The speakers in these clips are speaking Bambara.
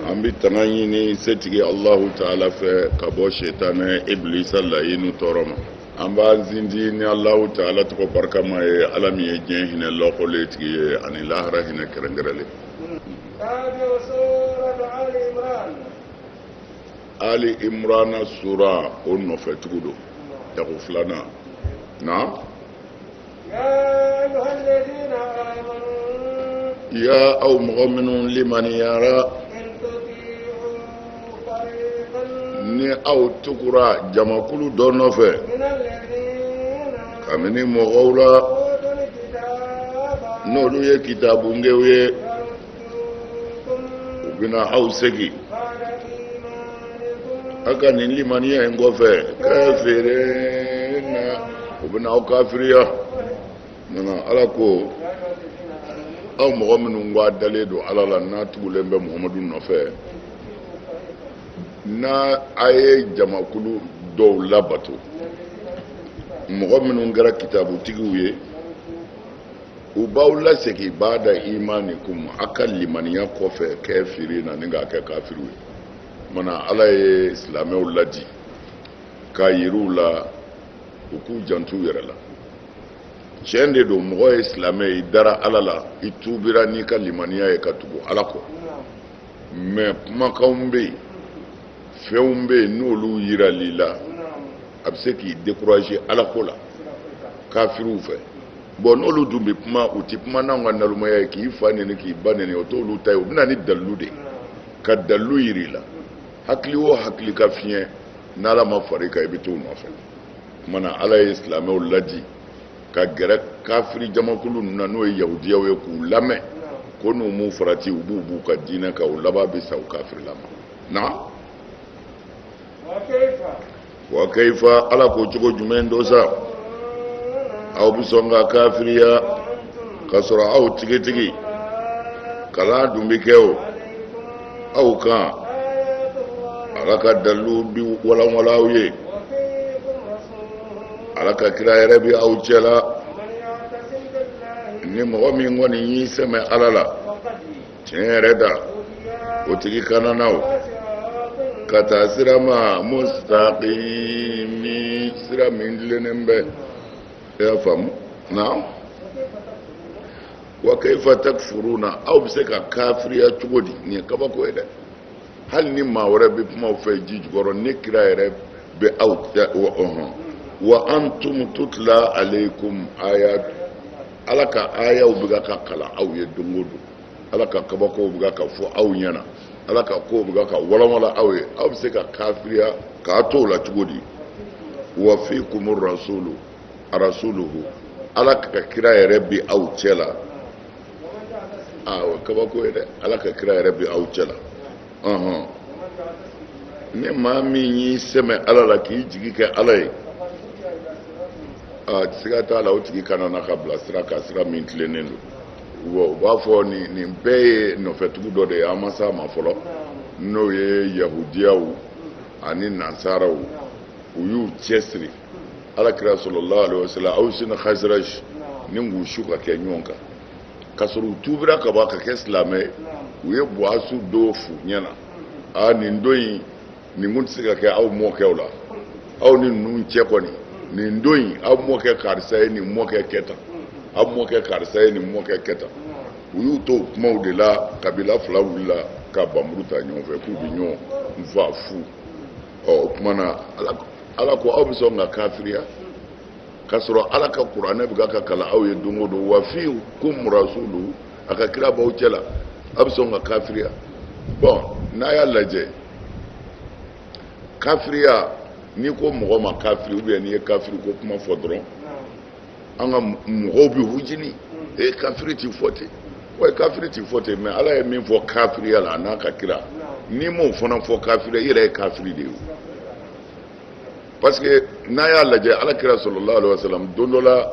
an bɛ tanga ɲini setigi alahu taala fɛ ka bɔ setanɛ iblisa layinu tɔɔrɔ ma an b'an sinsin ni alahu taala tɔgɔ barikama ye ala min ye diɲɛ hinɛ lɔkɔlen tigi ye ani lahara hinɛ kɛrɛnkɛrɛnlen ali imurana sura o nɔfɛtugu don dakun filanan na ya aw mɔgɔ minnu limaniyara ni aw tugura jamakulu dɔ nɔfɛ ka bɔ nin mɔgɔw la n'olu ye kitaabungew ye bɛna aw segi a ka nin limaniya in kɔfɛ kafirina u bɛna aw kafiriya mana ala ko aw mɔgɔ minnu ko a dalen don ala la n'a tugulen bɛ muhamadu nɔfɛ n'a a ye jamakulu dɔw labato mɔgɔ minnu kɛra kitabutigiw ye u b'aw lasegin ba'da imanikum a ka limaniya kɔfɛ kafirina ni k'a kɛ kafiriw ye mana ala ye silamɛw ladi k'a yira u la u k'u janto u yɛrɛ la tiɲɛ de don mɔgɔ ye silamɛ ye i dara ala la i tuubira n'i ka limaniya ye ka tugu ala kɔ mais kumakanw bɛ yen fɛnw bɛ yen n'olu yirala i la a bɛ se k'i décourager alako la kafiriw fɛ bon n'olu dun bɛ kuma u tɛ kuma n'anw ka nalomaya ye k'i fa neni k'i ba neni o t'olu ta ye u bɛ na ni dalilu de ye ka dalilu jira i la hakili o hakili ka fiɲɛ n'ala ma far'i kan i bɛ t'u nɔfɛ o tuma na ala ye silamɛw ladi ka gɛrɛ kafiri jamakulu ninnu na n'o ye yahudiyaw ye k'u lamɛn ko n'u m'u farati u b'u b'u ka diinɛ kan u laban bɛ sa u kafirilama na wa kayfa ala ko cogo jumɛn don sa aw bɛ sɔn ka kafiriya ka sɔrɔ aw tigitigi kalan dun bɛ kɛ aw kan ala ka dalilu bɛ walanwalan aw ye ala ka kira yɛrɛ bɛ aw cɛla ni mɔgɔ min kɔni y'i sɛmɛ ala la tiɲɛ yɛrɛ da o tigi kanana ka taa sira ma mustaqimi sira min tilennen bɛ i y'a faamu naam wa kayfa takfuruna aw bɛ se ka kafiriya cogo di nin ye kabako ye dɛ hali ni maa wɛrɛ bɛ kuma u fɛ ji jukɔrɔ ne kira yɛrɛ bɛ aw cɛ wa ɔhɔn wa antum tutla alaykum ayat ala ka ayaw bɛ ka kalan aw ye don o don ala ka kabakow bɛ ka fɔ aw ɲɛna ala ka kow bɛ ka walanwalan aw ye aw bɛ se ka kafiriya k'a to o la cogo di wa fikum rasulu arasuluhu ala ka kira yɛrɛ bi aw cɛ la aa o kabako ye dɛ ala ka kira yɛrɛ bi aw cɛ la ɔhɔn ni maa min y'i sɛmɛ ala la k'i jigi kɛ ala ye a siga t'a la o tigi kanana ka bila sira kan sira min tilennen don u b'a fɔ nin nin bɛɛ ye nɔfɛtugu dɔ de ye an ma s'a ma fɔlɔ n'o ye yahudiyaw ani nansaraw u y'u cɛsiri alakira sallallahu alayhi wa sallam awsi ni haziraji ni k'u su ka kɛ ɲɔgɔn kan k'a sɔrɔ u tuubira kaban ka kɛ silamɛ ye u ye buwasu don f'u ɲɛna a nin don in nin kun tɛ se ka kɛ aw mɔkɛw la aw ni ninnu cɛ kɔni nin don in aw mɔkɛ karisa ye nin mɔkɛ kɛ tan aw mɔkɛ karisa ye nin mɔkɛ kɛ tan u y'u to kumaw de la kabila fila wulila ka npanmuru ta ɲɔgɔn fɛ k'u bɛ ɲɔgɔn fa fu ɔ o tuma na ala ko aw bɛ sɔn ka kafiriya k'a sɔrɔ ala ka kuranɛ bɛ ka kalan aw ye don o don wa fikum rasulu a ka kira b'aw cɛ la aw bɛ sɔn ka kafiriya bon n'a y'a lajɛ kafiriya n'i ko mɔgɔ ma kafiri ou bien n'i ye kafiri ko kuma fɔ dɔrɔn an ka mɔgɔw bɛ hujini ee kafiri ti fɔ ten wa kafiri ti fɔ ten mais ala ye min fɔ kafiriya la a n'a ka kira n'i m'o fana fɔ kafiri i yɛrɛ ye kafiri de ye parce que n'a y'a lajɛ ala kira sallallahu alaihi wa salam don dɔ la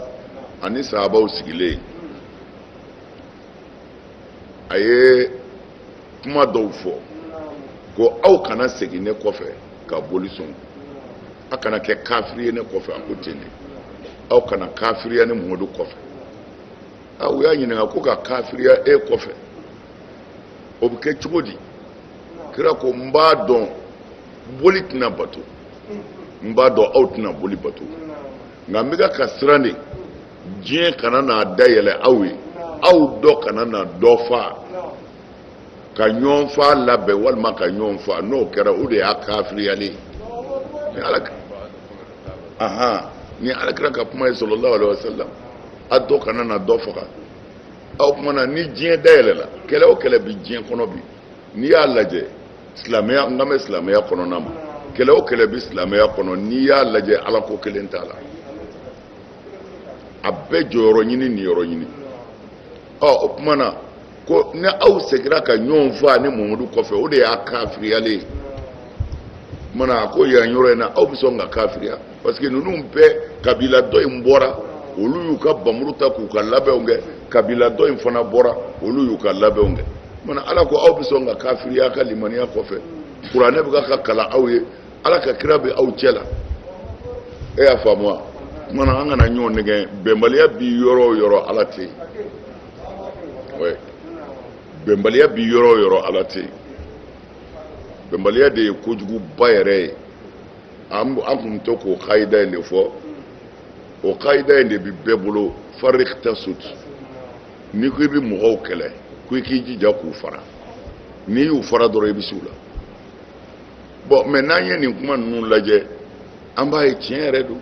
a ni sahabaw sigilen a ye kuma dɔw fɔ ko aw kana segin ne kɔfɛ ka boli sɔn aw kana kɛ kafiri ye ne kɔfɛ a ko ten de aw kana kafiriya ne mamadu kɔfɛ a u y'a ɲininka ko ka kafiriya e kɔfɛ o bɛ kɛ cogo di kira ko n b'a dɔn boli tɛna bato n b'a dɔn aw tɛna boli bato nka n bɛ ka ka siran de diɲɛ kana na dayɛlɛ aw ye aw dɔ kana na dɔ fa ka ɲɔgɔn fa labɛn walima ka ɲɔgɔn fa n'o kɛra o de y'a kafiriyalen ye ahan ni alakira ka kuma ye sallallahu alaihi wasallam a dɔ kana na dɔ faga aw kuma na ni diɲɛ dayɛlɛla kɛlɛ o kɛlɛ bi diɲɛ kɔnɔ bi n'i y'a lajɛ silamɛya n kan bɛ silamɛya kɔnɔna ma kɛlɛ o kɛlɛ bi silamɛya kɔnɔ n'i y'a lajɛ ala ko kelen t'a la a bɛɛ jɔyɔrɔ ɲini niyɔrɔ ɲini ɔ o tuma na ko ni aw segira ka ɲɔgɔn faa ne mamadu kɔfɛ o de y'a kafiriyalen ye o tuma na a ko yan yɔrɔ in na aw bɛ sɔn ka kafiriya parce que ninnu bɛɛ kabila dɔ in bɔra olu y'u ka bamuru ta k'u ka labɛnw kɛ kabila dɔ in fana bɔra olu y'u ka labɛnw kɛ o tuma na ala ko aw bɛ sɔn ka kafiriya ka limaniya kɔfɛ kuranɛ bɛ ka kalan aw ye ala ka kira bɛ aw cɛ la e y'a faamu wa o tuma na an kana ɲɔgɔn nɛgɛn bɛnbaliya bi yɔrɔ o yɔrɔ ala tɛ yen bɛnbaliya bi yɔrɔ o yɔrɔ ala tɛ yen bɛnbaliya de ye kojuguba yɛrɛ ye an tun to k'o kayida in de fɔ o kayida in de bɛ bɛɛ bolo farik tasut n'i ko i bɛ mɔgɔw kɛlɛ ko i k'i jija k'u fara n'i y'u fara dɔrɔn i bɛ s'u la bɔn mɛ n'an ye nin kuma ninnu lajɛ an b'a ye tiɲɛ yɛrɛ don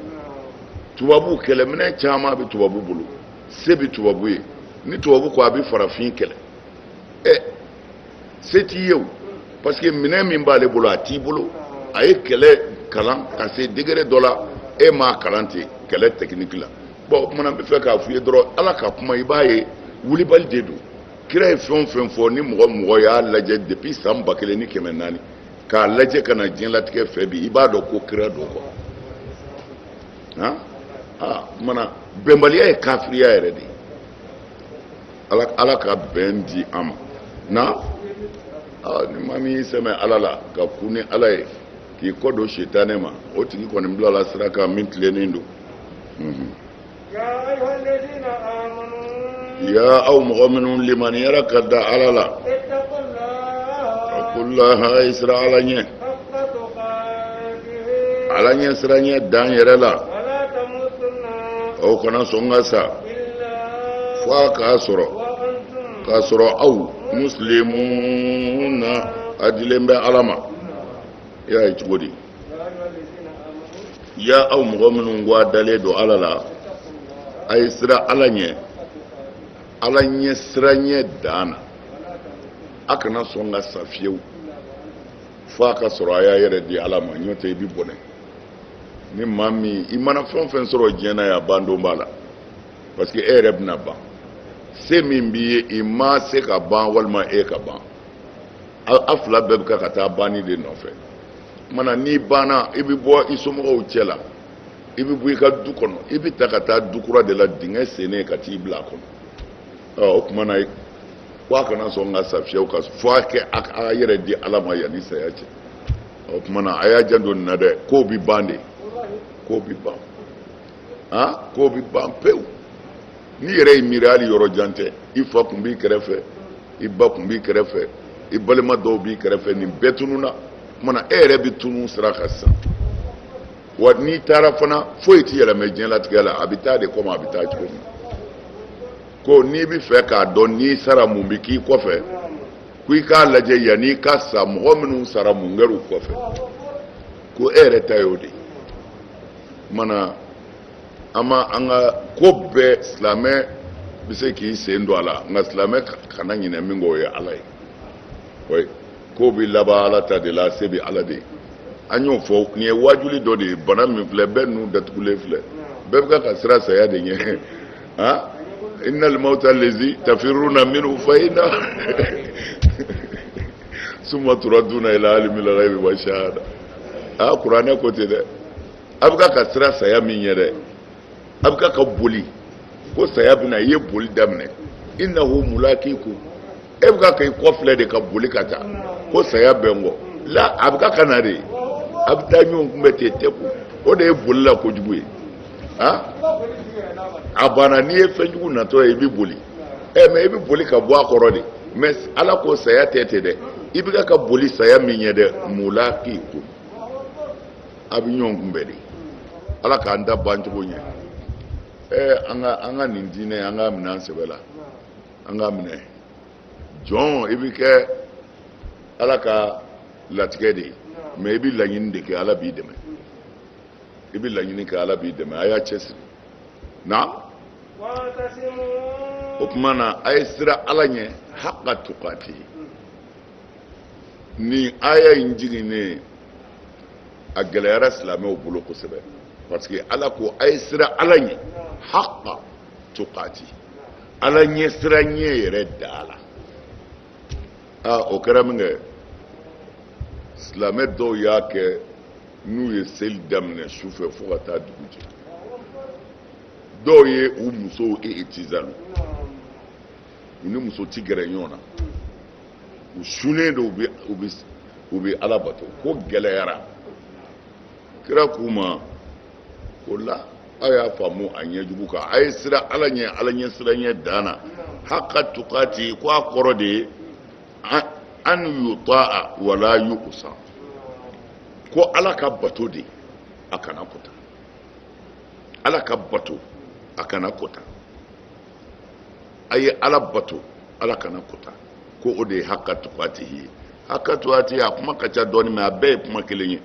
tubabuw kɛlɛminɛn caman bɛ tubabu bolo se bɛ tubabu ye ni tubabu ko a bɛ farafin kɛlɛ ɛ se t'i ye o parce que minɛn min b'ale bolo a t'i bolo a ye kɛlɛ kalan ka se degere dɔ la e m'a kalan ten kɛlɛ tɛkiniki la bɔn o tuma na n b'a fɛ k'a f'i ye dɔrɔn ala ka kuma i b'a ye wulibali de don kira ye fɛn o fɛn fɔ ni mɔgɔ o mɔgɔ y'a lajɛ depuis san ba kelen ni kɛmɛ naani k'a lajɛ ka na diɲɛlatigɛ fɛ bi i b'a dɔn ko kira don kɔ han aa tuma na bɛnbaliya ye kafiriya yɛrɛ de ye ala ala ka bɛn di an ma na aa ni maa min y'i sɛmɛ ala la ka to ni ala ye k'i kɔ don sitanɛ ma o tigi kɔni bilala sira kan min tilennen don. ya aw mɔgɔ minnu limaniyara ka da ala la itakulaha a ye siran ala ɲɛ ala ɲɛ siranɲɛ dan yɛrɛ la aw kana sɔn ka sa fo a k'a sɔrɔ k'a sɔrɔ aw musilimuna a dilen bɛ ala ma i y'a ye cogo di ya aw mɔgɔ minnu ko a dalen don ala la a ye siran ala ɲɛ ala ɲɛ siranɲɛ dan na a kana sɔn ka sa fiyewu fo a k'a sɔrɔ a y'a yɛrɛ di ala ma n'o tɛ i bi bɔnɛ ni maa min i mana fɛn o fɛn sɔrɔ diɲɛ na yan ban don b'a la parce que e yɛrɛ bɛna ban se min b'i ye ima se ka ban walima e ka ban a fila bɛɛ bɛ ka ka taa banni de nɔfɛ tuma na n'i banna i bɛ bɔ i somɔgɔw cɛ la i bɛ bɔ i ka du kɔnɔ i bɛ ta ka taa du kura de la dingɛ sennen ka t'i bila a kɔnɔ ɔ o tuma na ko a kana sɔn ka sa fiyewu fo a kɛ a k'a yɛrɛ di ala ma yanni saya cɛ o tuma na a y'a janto nin na dɛ k'o bɛ ban de k'o bɛ ban. ah k'o bɛ ban pewu n'i yɛrɛ y'i miiri hali yɔrɔ jan tɛ i fa tun b'i kɛrɛfɛ i ba tun b'i kɛrɛfɛ i balima dɔw b'i kɛrɛfɛ nin bɛɛ tununna maintenant e yɛrɛ bɛ tunu sira kan sisan wa n'i taara fana foyi ti yɛlɛmɛ diɲɛlatigɛ la a bɛ taa de kɔmi a bɛ taa cogo min ko n'i b'a fɛ k'a dɔn n'i sara mun bɛ k'i kɔfɛ ko i k'a lajɛ yann'i ka sa mɔgɔ minnu sara mun kɛra u kɔfɛ ko e yɛrɛ ta y'o de ye mana an ma an ka ko bɛɛ silamɛ bɛ se k'i sen don a la nka silamɛ kana ɲinɛ min kɔ o ye ala ye oui ko bɛ laban ala ta de la se bɛ ala de ye an y'o fɔ nin ye waajuli dɔ de ye bana min filɛ bɛɛ nun datugulen filɛ bɛɛ bɛ ka ka sira saya de ɲɛ han innal mawuta lazi tafiruna minhu fa inna summa turaduna ila alimil gayibi wa shahada a kuranɛ ko ten dɛ a bɛ ka ka sira saya min ye dɛ a bɛ ka ka boli ko saya bɛna i ye boli daminɛ innahu mulakikum e bɛ ka ka i kɔfilɛ de ka boli ka taa ko saya bɛ n kɔ la a bɛ ka ka na de a bɛ taa ɲɔgɔn kunbɛn ten tɛ ko o de ye boli la kojugu ye a a banna n'i ye fɛn jugu natɔ ye i bɛ boli ɛ mɛ i bɛ boli ka bɔ a kɔrɔ de mɛ ala ko saya tɛ ten dɛ i bɛ ka boli saya min ye dɛ mulakikum a bɛ ɲɔgɔn kunbɛn de ala k'an labancogo ɲɛ ɛ an ka an ka nin diinɛ an k'a minɛ an sɛbɛ la an k'a minɛ jɔn i bɛ kɛ ala ka latigɛ de ye mɛ i bɛ laɲini de kɛ ala b'i dɛmɛ i bɛ laɲini kɛ ala b'i dɛmɛ a y'a cɛsiri na o tuma na a ye sira ala ɲɛ haqa tukati nin aya in jiginnen a gɛlɛyara silamɛw bolo kosɛbɛ parce que ala ko a ye sira ala ɲɛ haqa tukati ala ɲɛ sira ɲɛ yɛrɛ da la aa o kɛra min kɛ silamɛ dɔw y'a kɛ n'u ye seli daminɛ su fɛ fo ka taa dugu jɛ dɔw ye u musow itizalu u ni muso ti gɛrɛ ɲɔgɔn na u sunnen don u bɛ ala bato ko gɛlɛyara kira k'u ma ko la aw y'a faamu a ɲɛ jugu kan a ye sira ala ɲɛ ala ɲɛ sira ɲɛ dan na haka tukati ko a kɔrɔ de ye an yutaa wala yuusa ko ala ka bato de a kana kota ala ka bato a kana kota a ye ala bato ala kana kota ko o de ye haka tukatihi ye haka tukatihi a kuma ka ca dɔɔni mais a bɛɛ ye kuma kelen ye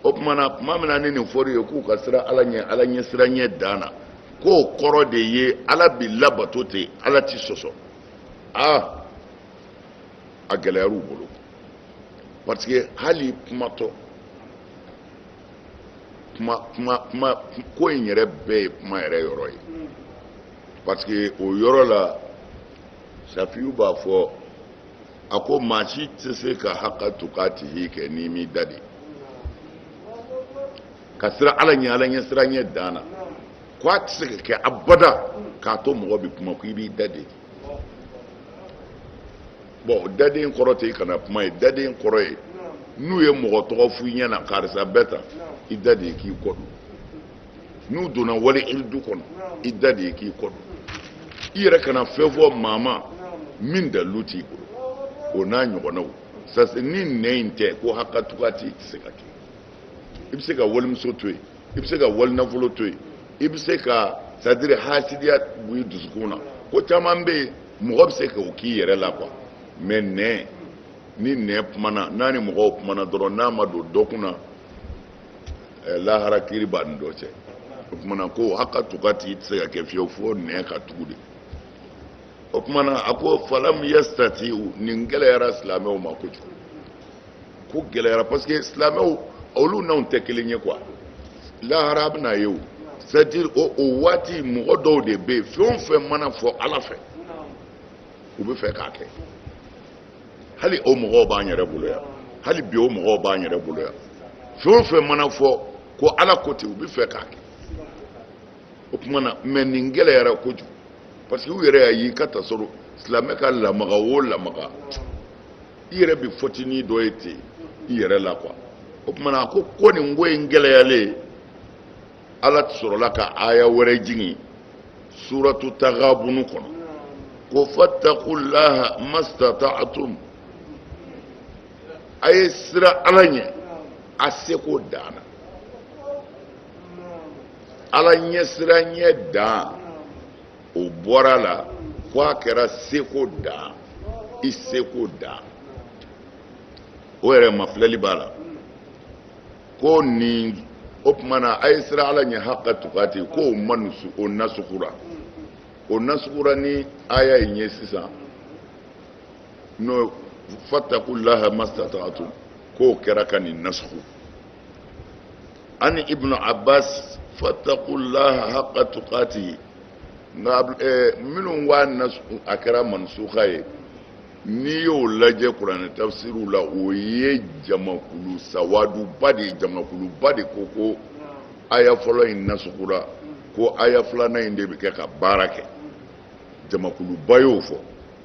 o tuma na tuma min na ni nin fɔr'u ye k'u ka siran ala ɲɛ ala ɲɛsiran ɲɛ dan na k'o kɔrɔ de ye ala bi labato ten ala ti sɔsɔ aa a gɛlɛyar'u bolo parce que hali kumatɔ ko in yɛrɛ bɛɛ ye kuma yɛrɛ yɔrɔ ye parce que o yɔrɔ la safiyu b'a fɔ a ko maa si tɛ se ka haka tukatihi kɛ n'i m'i da de ka siran ala ɲɛ ala ɲɛsiran ɲɛ dan na ko a tɛ se ka kɛ abada k'a to mɔgɔ bɛ kuma ko i b'i da de bon da de kɔrɔ tɛ i kana kuma ye da de kɔrɔ ye n'u ye mɔgɔ tɔgɔ f'i ɲɛna karisa bɛ tan i da de ye k'i kɔ don n'u donna wali iridu kɔnɔ i da de ye k'i kɔ don i yɛrɛ kana fɛn fɔ maa ma min dalilu t'i bolo o n'a ɲɔgɔnnaw sase ni nɛn in tɛ ko haka tukatihi tɛ se ka kɛ i bɛ se ka walimuso to yen i bɛ se ka wali nafolo to yen i bɛ se ka c'est à dire hasidiya b'i dusukun na ko caman bɛ yen mɔgɔ bɛ se k'o k'i yɛrɛ la quoi mais nɛn ni nɛn kumana n'a ni mɔgɔw kumana dɔrɔn n'a ma don dɔ kunna eh, lahara kiiri b'a ni dɔ cɛ o kuma na ko haka tukatihi tɛ se ka kɛ fiyewu fo nɛn ka tugu de o kuma na a ko falam yastati'u nin gɛlɛyara silamɛw ma kojugu ko gɛlɛyara parce que silamɛw olu n'anw tɛ kelen ye quoi lahara a bɛna ye o c'est à dire o o waati mɔgɔ dɔw de bɛ yen fɛn o fɛn mana fɔ ala fɛ u bɛ fɛ k'a kɛ hali o mɔgɔw b'an yɛrɛ bolo yan hali bi o mɔgɔw b'an yɛrɛ bolo yan fɛn o fɛn mana fɔ ko ala ko ten u bɛ fɛ k'a kɛ o tuma na mais nin gɛlɛyara kojugu parce que u yɛrɛ y'a ye ka t'a sɔrɔ silamɛ ka lamaga o lamaga i yɛrɛ bɛ fɔtinin dɔ ye ten i yɛrɛ la quoi o tuma na a ko ko nin ko in gɛlɛyalen ala sɔrɔla ka aya wɛrɛ jigin suratu tagabunu kɔnɔ ko fatakulaha mastata'atum a ye siran ala ɲɛ a seko dan na ala ɲɛsiran ɲɛ dan o bɔra la ko a kɛra seko dan i seko dan o yɛrɛ mafilɛli b'a la ko nin o tuma na a ye siran ala ɲɛ haqqa tuqati ko o mansuku o nasukura o nasukura ni aya in ye sisan n'o fattaqullaha mastatatu k'o kɛra ka nin nasuku an ibnu abbas fattaqullaha haqqa tuqatihi nka eh, minnu wa na a kɛra mansuka ye n'i y'o lajɛ kuranɛ tafsiriw la o ye jamakulu sawaduba de ye jamakuluba de ko ko aya fɔlɔ in nasukura ko aya filanan in de bɛ kɛ ka baara kɛ jamakuluba y'o fɔ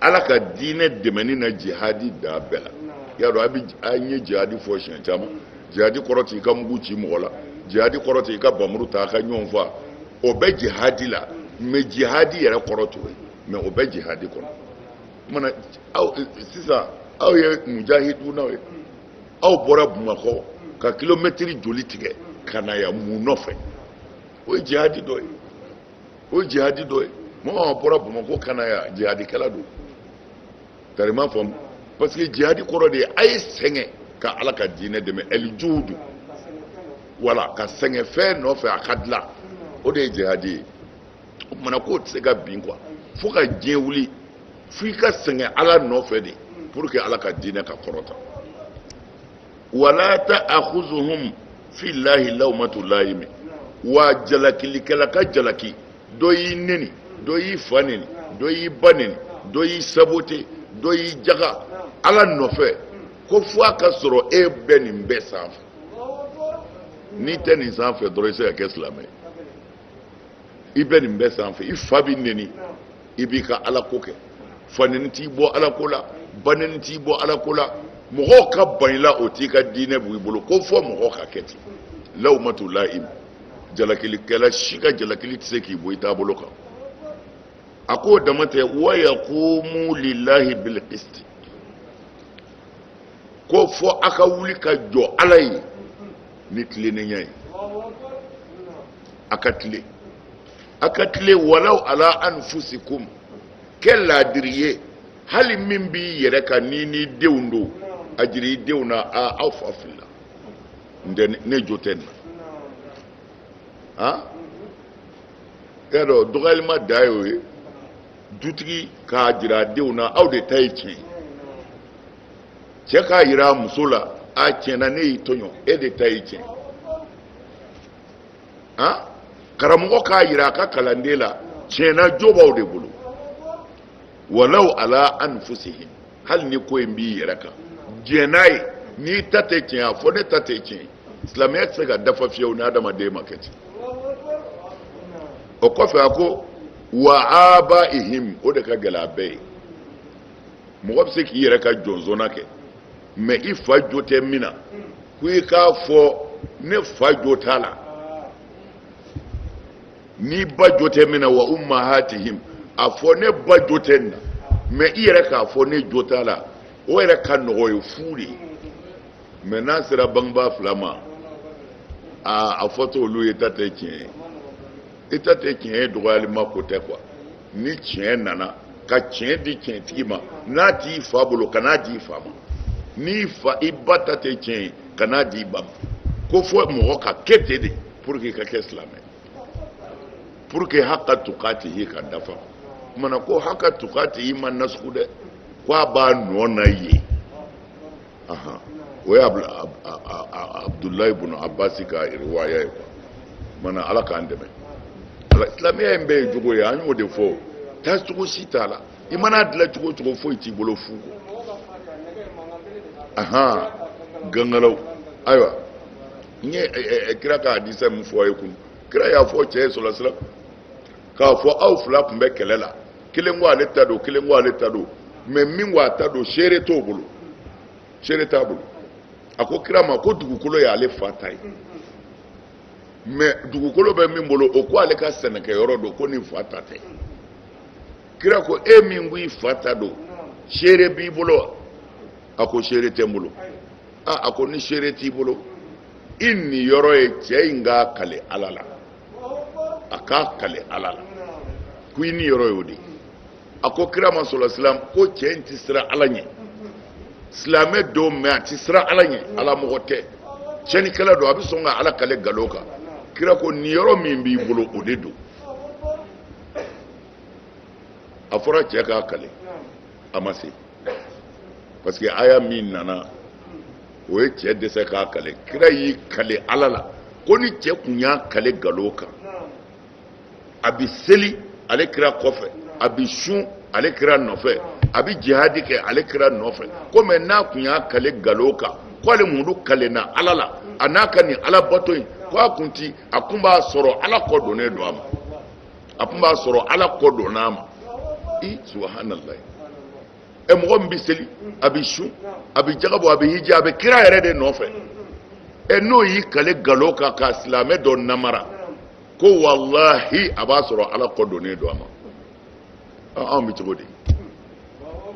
ala ka diinɛ dɛmɛni na jihadi da bɛɛ la y'a dɔn a bɛ an ye jihadi fɔ siɲɛ caman jihadi kɔrɔ t'i ka mugu ci mɔgɔ la jihadi kɔrɔ t'i ka bamuru ta a ka ɲɔgɔn fa o bɛ jihadi la mais jihadi yɛrɛ kɔrɔ t'o ye mais o bɛ jihadi kɔnɔ mana aw sisan aw ye mujahidunaw ye aw bɔra bamakɔ ka kilomɛtiri joli tigɛ ka na yan mun nɔfɛ o ye jihadi dɔ ye o ye jihadi dɔ ye mɔgɔ min bɔra bamakɔ ka na yan jihadikɛla don tari ma faamu parce que jihadi kɔrɔ de ye a ye sɛgɛn ka ala ka diinɛ dɛmɛ eljuhudu wala ka sɛgɛn fɛn nɔfɛ a ka dilan o de ye jihadi ye o tuma na k'o tɛ se ka bɛn quoi fo ka diɲɛ wuli fo i ka sɛgɛn ala nɔfɛ de pour que ala ka diinɛ ka kɔrɔta wa la taakuzuhum fillahi lawmatu layimi wa jalakilikɛla ka jalaki dɔ y'i neni dɔ y'i fa neni dɔ y'i ba neni dɔ y'i saboter dɔ y'i jaga ala nɔfɛ ko fo a ka sɔrɔ e bɛ nin bɛɛ sanfɛ n'i tɛ nin sanfɛ dɔrɔn i se ka kɛ silamɛ ye i bɛ nin bɛɛ sanfɛ i fa b'i neni i b'i ka ala ko kɛ fa neni t'i bɔ ala ko la ba neni t'i bɔ ala ko la mɔgɔw ka ban i la o t'i ka diinɛ bɔ i bolo ko fo mɔgɔw ka kɛ ten lawmatu layim jalakilikɛla si ka jalakili tɛ se k'i bɔ i taabolo kan a k'o dama tɛ wa yaqumu lillahi bil qisti ko fo a ka wuli ka jɔ ala ye ni tilennenya ye a ka tilen a ka tilen walaw ala anfusikum kɛ laadiri ye hali min b'i yɛrɛ kan n'i n'i denw don a jira i denw na a aw fa filila n tɛ ne jo tɛ nin na han y'a dɔn dɔgɔyalima dan y'o ye dutigi k'a jira a denw na aw de ta ye tiɲɛ ye cɛ k'a jira a muso la a tiɲɛ na ne y'i tɔɲɔ e de ta ye tiɲɛ han karamɔgɔ k'a jira a ka kalanden la tiɲɛ na jo b'aw de bolo walaw ala anfusihim hali ni ko in b'i yɛrɛ kan diɲɛ n'a ye n'i ta tɛ tiɲɛ a fɔ ne ta tɛ tiɲɛ silamɛya tɛ se ka dafa fiyewu ni adamaden ma kɛ ten o kɔfɛ a ko wa abaihim o de ka gɛlɛn a bɛɛ ye mɔgɔ bɛ se k'i yɛrɛ ka jɔnsɔnna kɛ mɛ i fa jo tɛ min na ko i k'a fɔ ne fa jo t'a la n'i ba jo tɛ min na wa ummahatihim a fɔ ne ba jo tɛ nin na mɛ i yɛrɛ k'a fɔ ne jo t'a la o yɛrɛ ka nɔgɔ ye fu de ye mɛ n'a sera bangebaa fila ma aa a fɔt'olu ye ta tɛ tiɲɛ ye i ta tɛ tiɲɛ ye dɔgɔyalima ko tɛ quoi ni tiɲɛ nana ka tiɲɛ di tiɲɛtigi ma n'a t'i fa bolo kan'a di i fa ma n'i fa i ba ta tɛ tiɲɛ ye kan'a di i ba ma ko fɔ mɔgɔ ka kɛ ten de pour que i ka kɛ silamɛ pour que haka tukatihi ka dafa maana ko haka tukatihi ma nasugu dɛ ko a b'a nɔ na yen o ye abudulayi bunu abasi ka riwaya ye quoi maana ala k'an dɛmɛ silamɛya in bɛɛ ye jogo ye an y'o de fɔ taa cogo si t'a la i mana dilan cogo o cogo foyi t'i bolo fu kɔ ahan gangalaw ayiwa n ye kira ka hadisa min fɔ aw ye kunun kira y'a fɔ cɛ ye sɔlasilam k'a fɔ aw fila tun bɛ kɛlɛ la kelen ko ale ta don kelen ko ale ta don mɛ min ko a ta don seere t'o bolo seere t'a bolo a ko kira ma ko dugukolo ye ale fa ta ye mɛ dugukolo bɛ min bolo o ko ale ka sɛnɛkɛyɔrɔ don ko nin fa ta tɛ kira ko e min ko i fa ta don seere b'i bolo wa a ko seere tɛ n bolo a a ko ni seere t'i bolo i niyɔrɔ ye cɛ in k'a kale ala la a k'a kale ala la ko i niyɔrɔ y'o de a ko kira ma sɔlasilam ko cɛ in ti siran ala ɲɛ silamɛ don mɛ a ti siran ala ɲɛ ala mɔgɔ tɛ tiɲɛnikɛla don a bɛ sɔn ka ala kale galo kan kira ko niyɔrɔ min b'i bolo o de don a fɔra cɛ k'a kale a ma se parce que aya min nana o ye cɛ dɛsɛ k'a kale kira y'i kale ala la ko ni cɛ kun y'a kale galo kan a bi seli ale kira kɔfɛ a bi sun ale kira nɔfɛ a bi jihadi kɛ ale kira nɔfɛ ko mɛ n'a kun y'a kale galo kan ko ale mamadu kalenna ala la a n'a ka nin alabato in ko a kun ti a kun b'a sɔrɔ ala kɔ donnen don a ma a tun b'a sɔrɔ ala kɔ donna a ma i subahanallahi ɛ mɔgɔ min bɛ seli a bɛ sun a bɛ jaka bɔ a bɛ hiji a bɛ kira yɛrɛ de nɔfɛ ɛ n'o y'i kale galo kan ka silamɛ dɔ namara ko walahi a b'a sɔrɔ ala kɔ donnen don a ma anw bɛ cogo di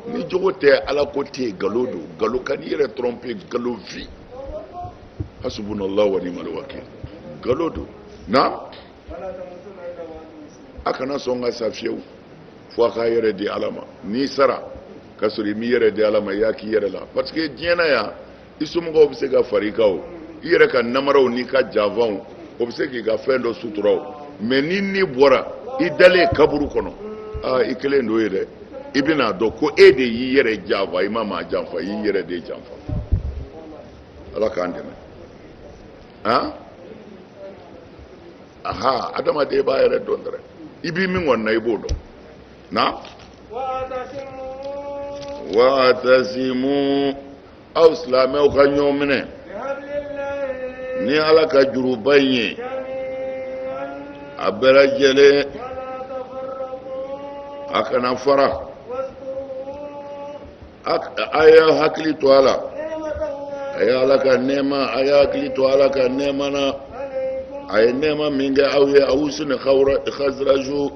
ni jogo tɛ ala ko tɛ yen galo don galo kan'i yɛrɛ trompe galo vi hasubunallahu wa ni'mal wakil galo don na a kana sɔn ka sa fiyewu fo a k'a yɛrɛ di ala ma n'i sara ka sɔrɔ i m'i yɛrɛ di ala ma i y'a k'i yɛrɛ la parce que diɲɛ na yan i somɔgɔw bɛ se ka far'i kan o i yɛrɛ ka namaraw n'i ka janfanw o bɛ se k'i ka fɛn dɔ sutura o mɛ ni n'i bɔra i dalen kaburu kɔnɔ aa i kelen don yen dɛ i bɛn'a dɔn ko e de y'i yɛrɛ janfa i ma maa janfa i y'i yɛrɛ de janfa ala k'an dɛmɛ ha aha adamaden b'a yɛrɛ dɔn dɛrɛ i bi min kɔni na i b'o dɔn na wa'tasimu aw silamɛw ka ɲɔgɔn minɛ ni ala ka juruba in ye a bɛɛ lajɛlen a kana fara a y'a hakili to a la a ye ala ka nɛɛma a ye hakili to ala ka nɛɛma na a ye nɛɛma min kɛ aw ye awsi ni haziraju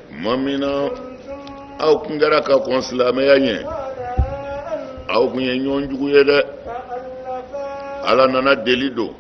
tuma min na aw tun kɛra ka kɔn silamɛya ɲɛ aw tun ye ɲɔgɔn jugu ye dɛ ala nana deli don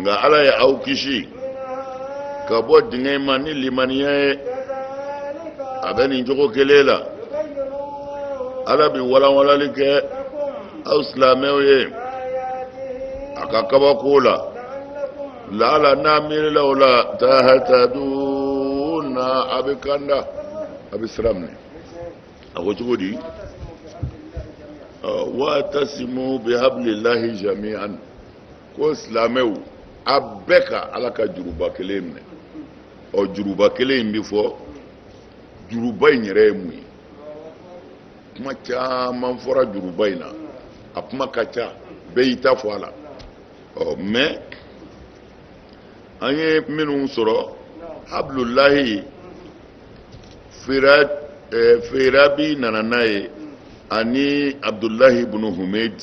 nka ala ye aw kisi ka bɔ dingɛ ma ni limaniya ye a bɛ nin cogo kelen la ala bɛ walanwalali kɛ aw silamɛw ye a ka kabako la laala n'a miirila o la tahataduna a bɛ kanda a bɛ sira minɛ a ko cogo di wa'tasimu bihablillahi jami'an ko silamɛw a bɛɛ ka ala ka juruba kelen minɛ ɔ juruba kelen in bɛ fɔ juruba in yɛrɛ ye mun ye kuma caman fɔra juruba in na a kuma ka ca bɛɛ y'i ta fɔ a la ɔ mɛ an ye minnu sɔrɔ abudulayi fira Eh, feerabi nana n'a ye ani abudulahi bunu humed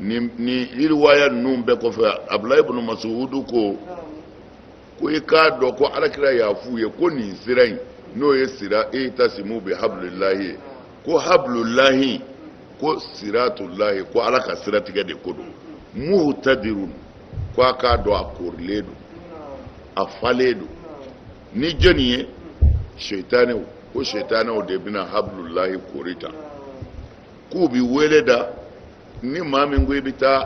nin nin riwaya ninnu bɛɛ kɔfɛ abudulayi ibn masuhudu ko ko i k'a dɔn ko ala kira y'a f'u ye ko nin sira in n'o ye sira itasimu bi habulilahi ye ko habulilahi ko siratulahi ko ala ka siratigɛ de ko don muhutadiru ko a k'a dɔn a korilen don a falen don ni jɔni ye setanew ko setanew de bɛna habulilahi kori ta k'u bi wele da ni maa min ko i bɛ taa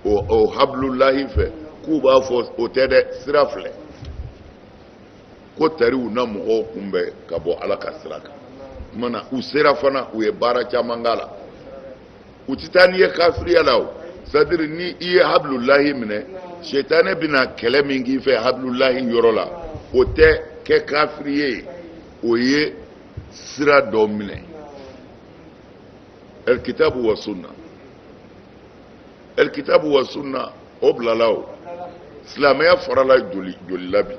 o o habilulahi fɛ k'u b'a fɔ o tɛ dɛ sira filɛ ko tari u na mɔgɔw kunbɛn ka bɔ ala ka sira kan mana u sera fana u ye baara caman k'a la u tɛ taa n'i ye kafiriya la o c'est-à-dire ni i ye habilulahi minɛ sitane bɛna kɛlɛ min k'i fɛ habilulahi yɔrɔ la o tɛ kɛ kafiriya ye o ye sira dɔ minɛ alikitabu wa sunna alikitabu wa sunna o bilala o silamɛya farala joli joli la bi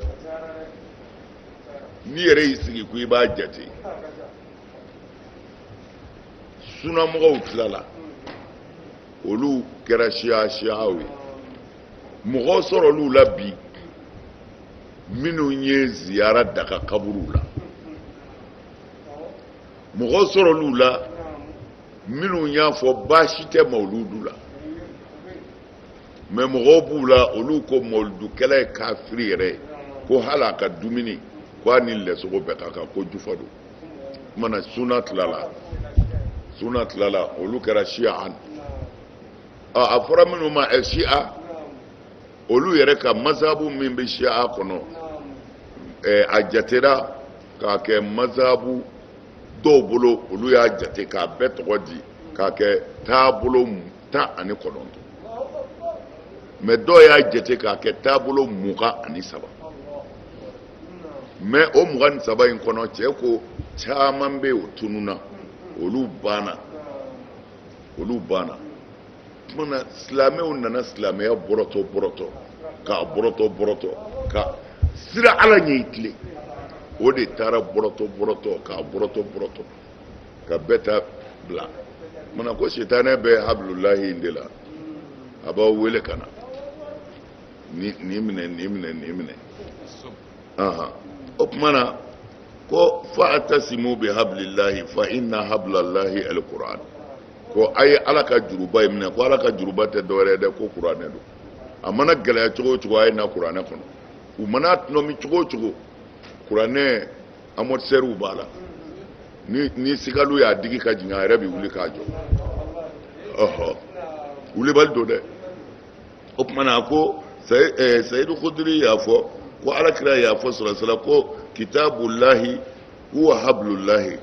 n'i yɛrɛ y'i sigi ko i b'a jate sunamɔgɔw tilala olu kɛra siya siyaw ye mɔgɔ sɔrɔl'u la bi minnu ye ziyara daga kaburuw la mɔgɔ sɔrɔl'u la minnu y'a fɔ baasi tɛ mawuludu la mɛ mɔgɔw b'u la olu ko mawuludukɛla ye kafiri yɛrɛ ye ko hali a ka dumuni ko a ni lɛsogo bɛɛ ka kan ko jufa don kumana suna tilala suna tilala olu kɛra siyaan a fɔra minnu ma ɛ siya olu yɛrɛ ka mazahabu min bɛ siya kɔnɔ ɛɛ a jatera k'a kɛ mazahabu dɔw bolo olu y'a jate k'a bɛɛ tɔgɔ di k'a kɛ taabolo tan ani kɔnɔntɔn mɛ dɔw y'a jate k'a kɛ taabolo mugan ani saba mɛ o mugan ni saba in kɔnɔ cɛ ko caman bɛ yen o tununna olu banna olu banna tuma silamɛw nana silamɛya bɔrɔtɔ bɔrɔtɔ k'a bɔrɔtɔ bɔrɔtɔ ka sira ala ɲɛ i tilen o de taara bɔrɔtɔ bɔrɔtɔ k'a bɔrɔtɔ bɔrɔtɔ ka bɛɛ ta bila mana ko sitanɛ bɛ habilulahi in de la a b'aw wele ka na nin minɛ nin minɛ nin minɛ o tuma na ko fa'tasimu bi hablillahi fa inna hablallahi alquran ko a ye ala ka juruba in minɛ ko ala ka juruba tɛ dɔwɛrɛ dɛ ko kuranɛ don a mana gɛlɛya cogo o cogo a ye na kuranɛ kɔnɔ u mana tɔnɔmi cogo o cogo kuranɛ amortisɛriw b'a la ni ni sigaliw y'a digi ka jigin a yɛrɛ bɛ wuli k'a jɔ ɔhɔ wulibali don dɛ o tuma na ko sayidu eh, kudiri y'a fɔ ko ala kira y'a fɔ sɔlɔsalam ko kitabulahi huwa hablulahi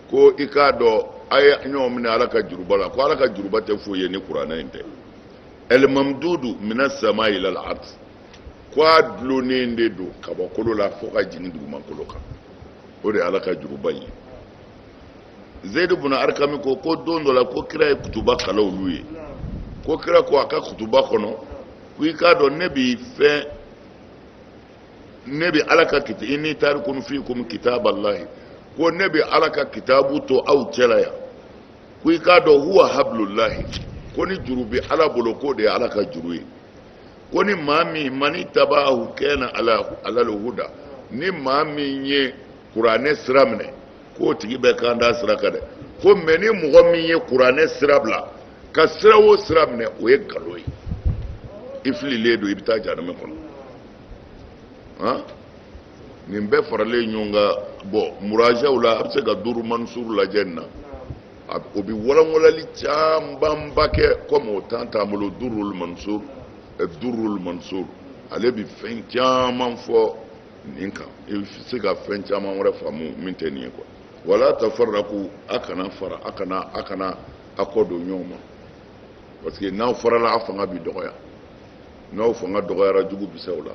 ko i k'a dɔn a ye ɲɔgɔn minɛ ala ka juruba la ko ala ka juruba tɛ foyi ye ni kuranɛ in tɛ ɛlimamidudu mina samayi ila lardi ko a dulonnen de don kabakolo la fo ka jigin dugumakolo kan o de ye ala ka juruba ye zeyidu buna arikami ko ko don dɔ la ko kira ye kutuba kalan olu ye ko kira ko a ka kutuba kɔnɔ ko i k'a dɔn ne bi fɛn ne bi ala ka kita inni tarikun fikum kitaballahi ko ne bi ala ka kitabu to aw cɛla yan ko i k'a dɔn huwa hablulahi ko ni juru bi ala bolo k'o de ye ala ka juru ye ko ni maa min manittabaahu kana alal huda ni maa min ye kuranɛ sira minɛ k'o tigi bɛ kanda sira kan dɛ ko mɛ ni mɔgɔ min ye kuranɛ sira bila ka sira o sira minɛ o ye nkalon ye i fililen don i bɛ taa jahanama kɔnɔ han nin bɛɛ faralen ɲɔgɔn kan bɔn murajaw la a bɛ se ka duru mansuru lajɛ nin na o bɛ walanwalali camanba kɛ kɔmi o tan t'an bolo duru mansuru duru mansuru ale bɛ fɛn caman fɔ nin kan i bɛ se ka fɛn caman wɛrɛ faamu min tɛ nin ye ko wala tafarraku a kana fara a kana a kana a kɔ don ɲɔgɔn ma parce que n'aw farala a fanga bɛ dɔgɔya n'aw fanga dɔgɔyara jugu bɛ se aw la.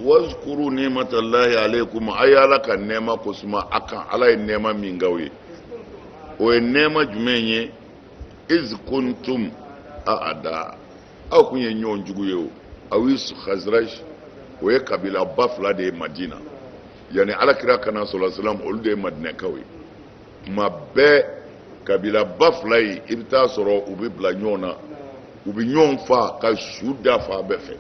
wazkuru nimatallahi alaikum a ye ala ka nɛɛma ko suma a kan ala ye nɛɛma min k'aw ye o ye nɛɛma jumɛn ye iz kuntum aada aw kun ye ɲɔgɔn jugu ye awsi khazraj o ye kabila ba fila de ye madina yanni ala kira ka na sɔlɔsalam olu de ye madinakaw ye tuma bɛɛ kabila ba fila ye i bɛ taa sɔrɔ u bɛ bila ɲɔgɔn na u bɛ ɲɔgɔn fa ka su da fan bɛɛ fɛ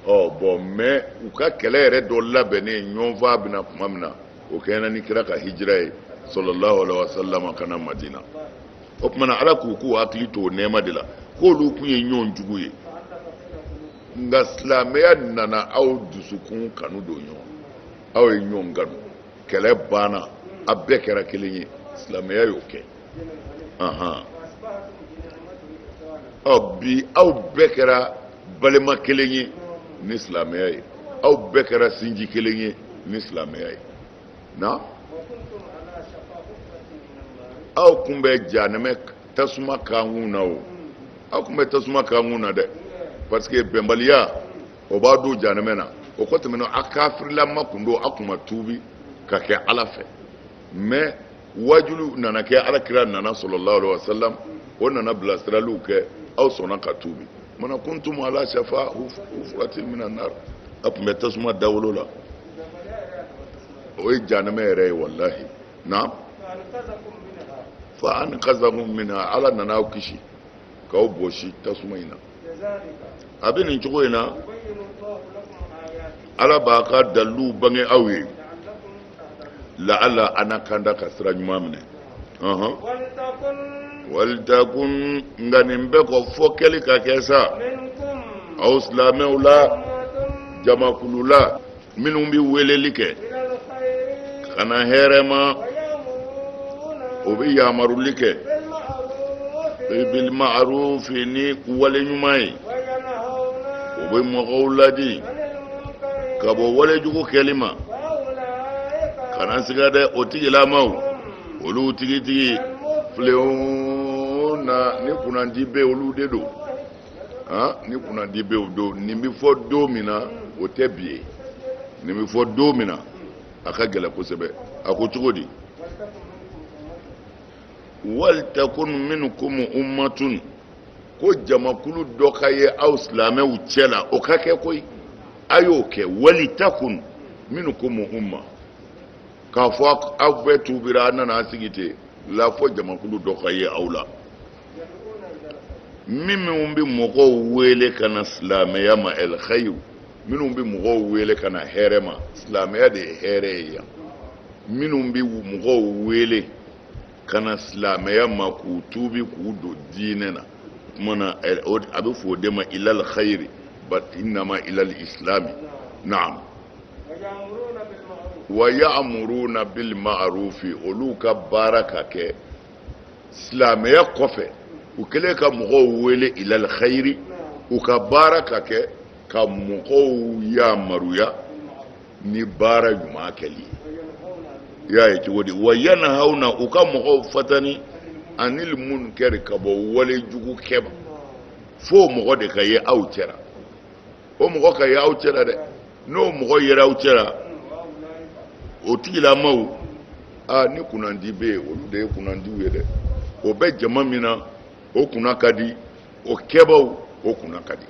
ɔ bɔn mɛ u ka kɛlɛ yɛrɛ dɔ labɛnnen ɲɔgɔn fa bɛna tuma min na o kɛɲɛna ni kira ka hijira ye sɔlɔlahu alaihi wa salama ka na madina o tuma na ala k'u k'u hakili to o nɛɛma de la k'olu kun ye ɲɔgɔn jugu ye nka silamɛya nana aw dusukun kanu don ɲɔgɔn aw ye ɲɔgɔn kanu kɛlɛ banna a bɛɛ kɛra kelen ye silamɛya y'o kɛ ɔ bi aw bɛɛ kɛra balima kelen ye ni silamɛya ye aw bɛɛ kɛra sinji kelen ye ni silamɛya ye na aw kun bɛ janɛmɛ tasuma kankun na o aw kun bɛ tasuma kankun na dɛ parce que bɛnbaliya o b'a don janɛmɛ na o kɔ tɛmɛnen a kafirilama kun don a kun ma tuubi ka kɛ ala fɛ mais waajulu nana kɛ ala kira nana sallallahu alaihi wasallam o nana bilasiraliw kɛ aw sɔnna ka tuubi wa kuntum ala shafa hufuratin mina nar a tun bɛ tasuma dawolo la o ye janɛmɛ yɛrɛ ye walahi naam fa ankazakum minha ala nana aw kisi k'aw bɔsi tasuma in na a bɛ nin cogo in na ala b'a ka daliluw bange aw ye laala aw na kanda ka sira ɲuman minɛ walitakun nka nin bɛɛ kɔ fɔ kɛli ka kɛ sa aw silamɛw la jamakulu la minnu bɛ weleli kɛ ka na hɛrɛ ma o bɛ yamaruli kɛ bil ma'rufi ni wale ɲuman ye o bɛ mɔgɔw ladi ka bɔ wale jugu kɛli ma kana siga dɛ o tigilamaw olu tigitigi mufilihuna ni kunnandi bɛ olu de don ah, ni kunnandi bɛ o don nin bɛ fɔ don min na o tɛ bi ye nin bɛ fɔ don min na a ka gɛlɛn kosɛbɛ a ko cogo di walitakun minkum umatun ko jamakulu dɔ ka ye aw silamɛw cɛ la o ka kɛ koyi a y'o kɛ walitakun minkum uma k'a fɔ aw bɛɛ tuubira a nana a sigi ten la fɔ jamakulu dɔ ka ye aw la minnu bɛ mɔgɔw wele ka na silamɛya ma al khayiru minnu bɛ mɔgɔw wele ka na hɛrɛ ma silamɛya de ye hɛrɛ ye yan minnu bɛ mɔgɔw wele ka na silamɛya ma k'u tuubi k'u don diinɛ na o tuma na a bɛ fɔ o de ma ilal khayiri bal innama ilal islami naam wa ya'muruna bil ma'rufi olu ka baara ka kɛ silamɛya kɔfɛ u kɛlen ka mɔgɔw wele ilal khayri u ka baara ka kɛ ka mɔgɔw yamaruya ni baara ɲuman kɛli ye y'a ye cogo di wa yanahawna u ka mɔgɔw fatani anil munkari ka bɔ wale jugu kɛba fo mɔgɔ de ka ye aw cɛra o mɔgɔ ka ye aw cɛra dɛ n'o mɔgɔ yera aw cɛra o tigilamaw aa ni kunnandi bɛ yen olu de ye kunnandiw ye dɛ o bɛ jama min na o kunna ka di o kɛbaaw o kunna ka di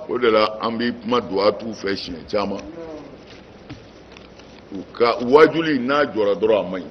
o de la an bɛ kuma duwa t'u fɛ siɲɛ caman u ka waajuli n'a jɔra dɔrɔn a man ɲi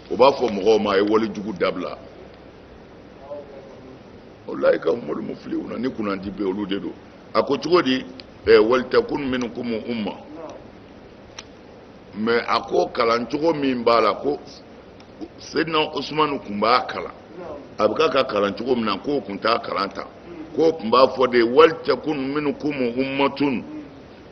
o b'a fɔ mɔgɔw ma a ye wale jugu dabila wa ulayika humul muflihuna ni kunnandi bɛ olu de don a ko cogo di ɛ walitakun minkum umma mais a ko kalan cogo min b'a la ko sedina usumanu tun b'a kalan an bɛ ka k'a kalan cogo min na k'o tun t'a kalan tan k'o tun b'a fɔ de walitakun minkum ummatun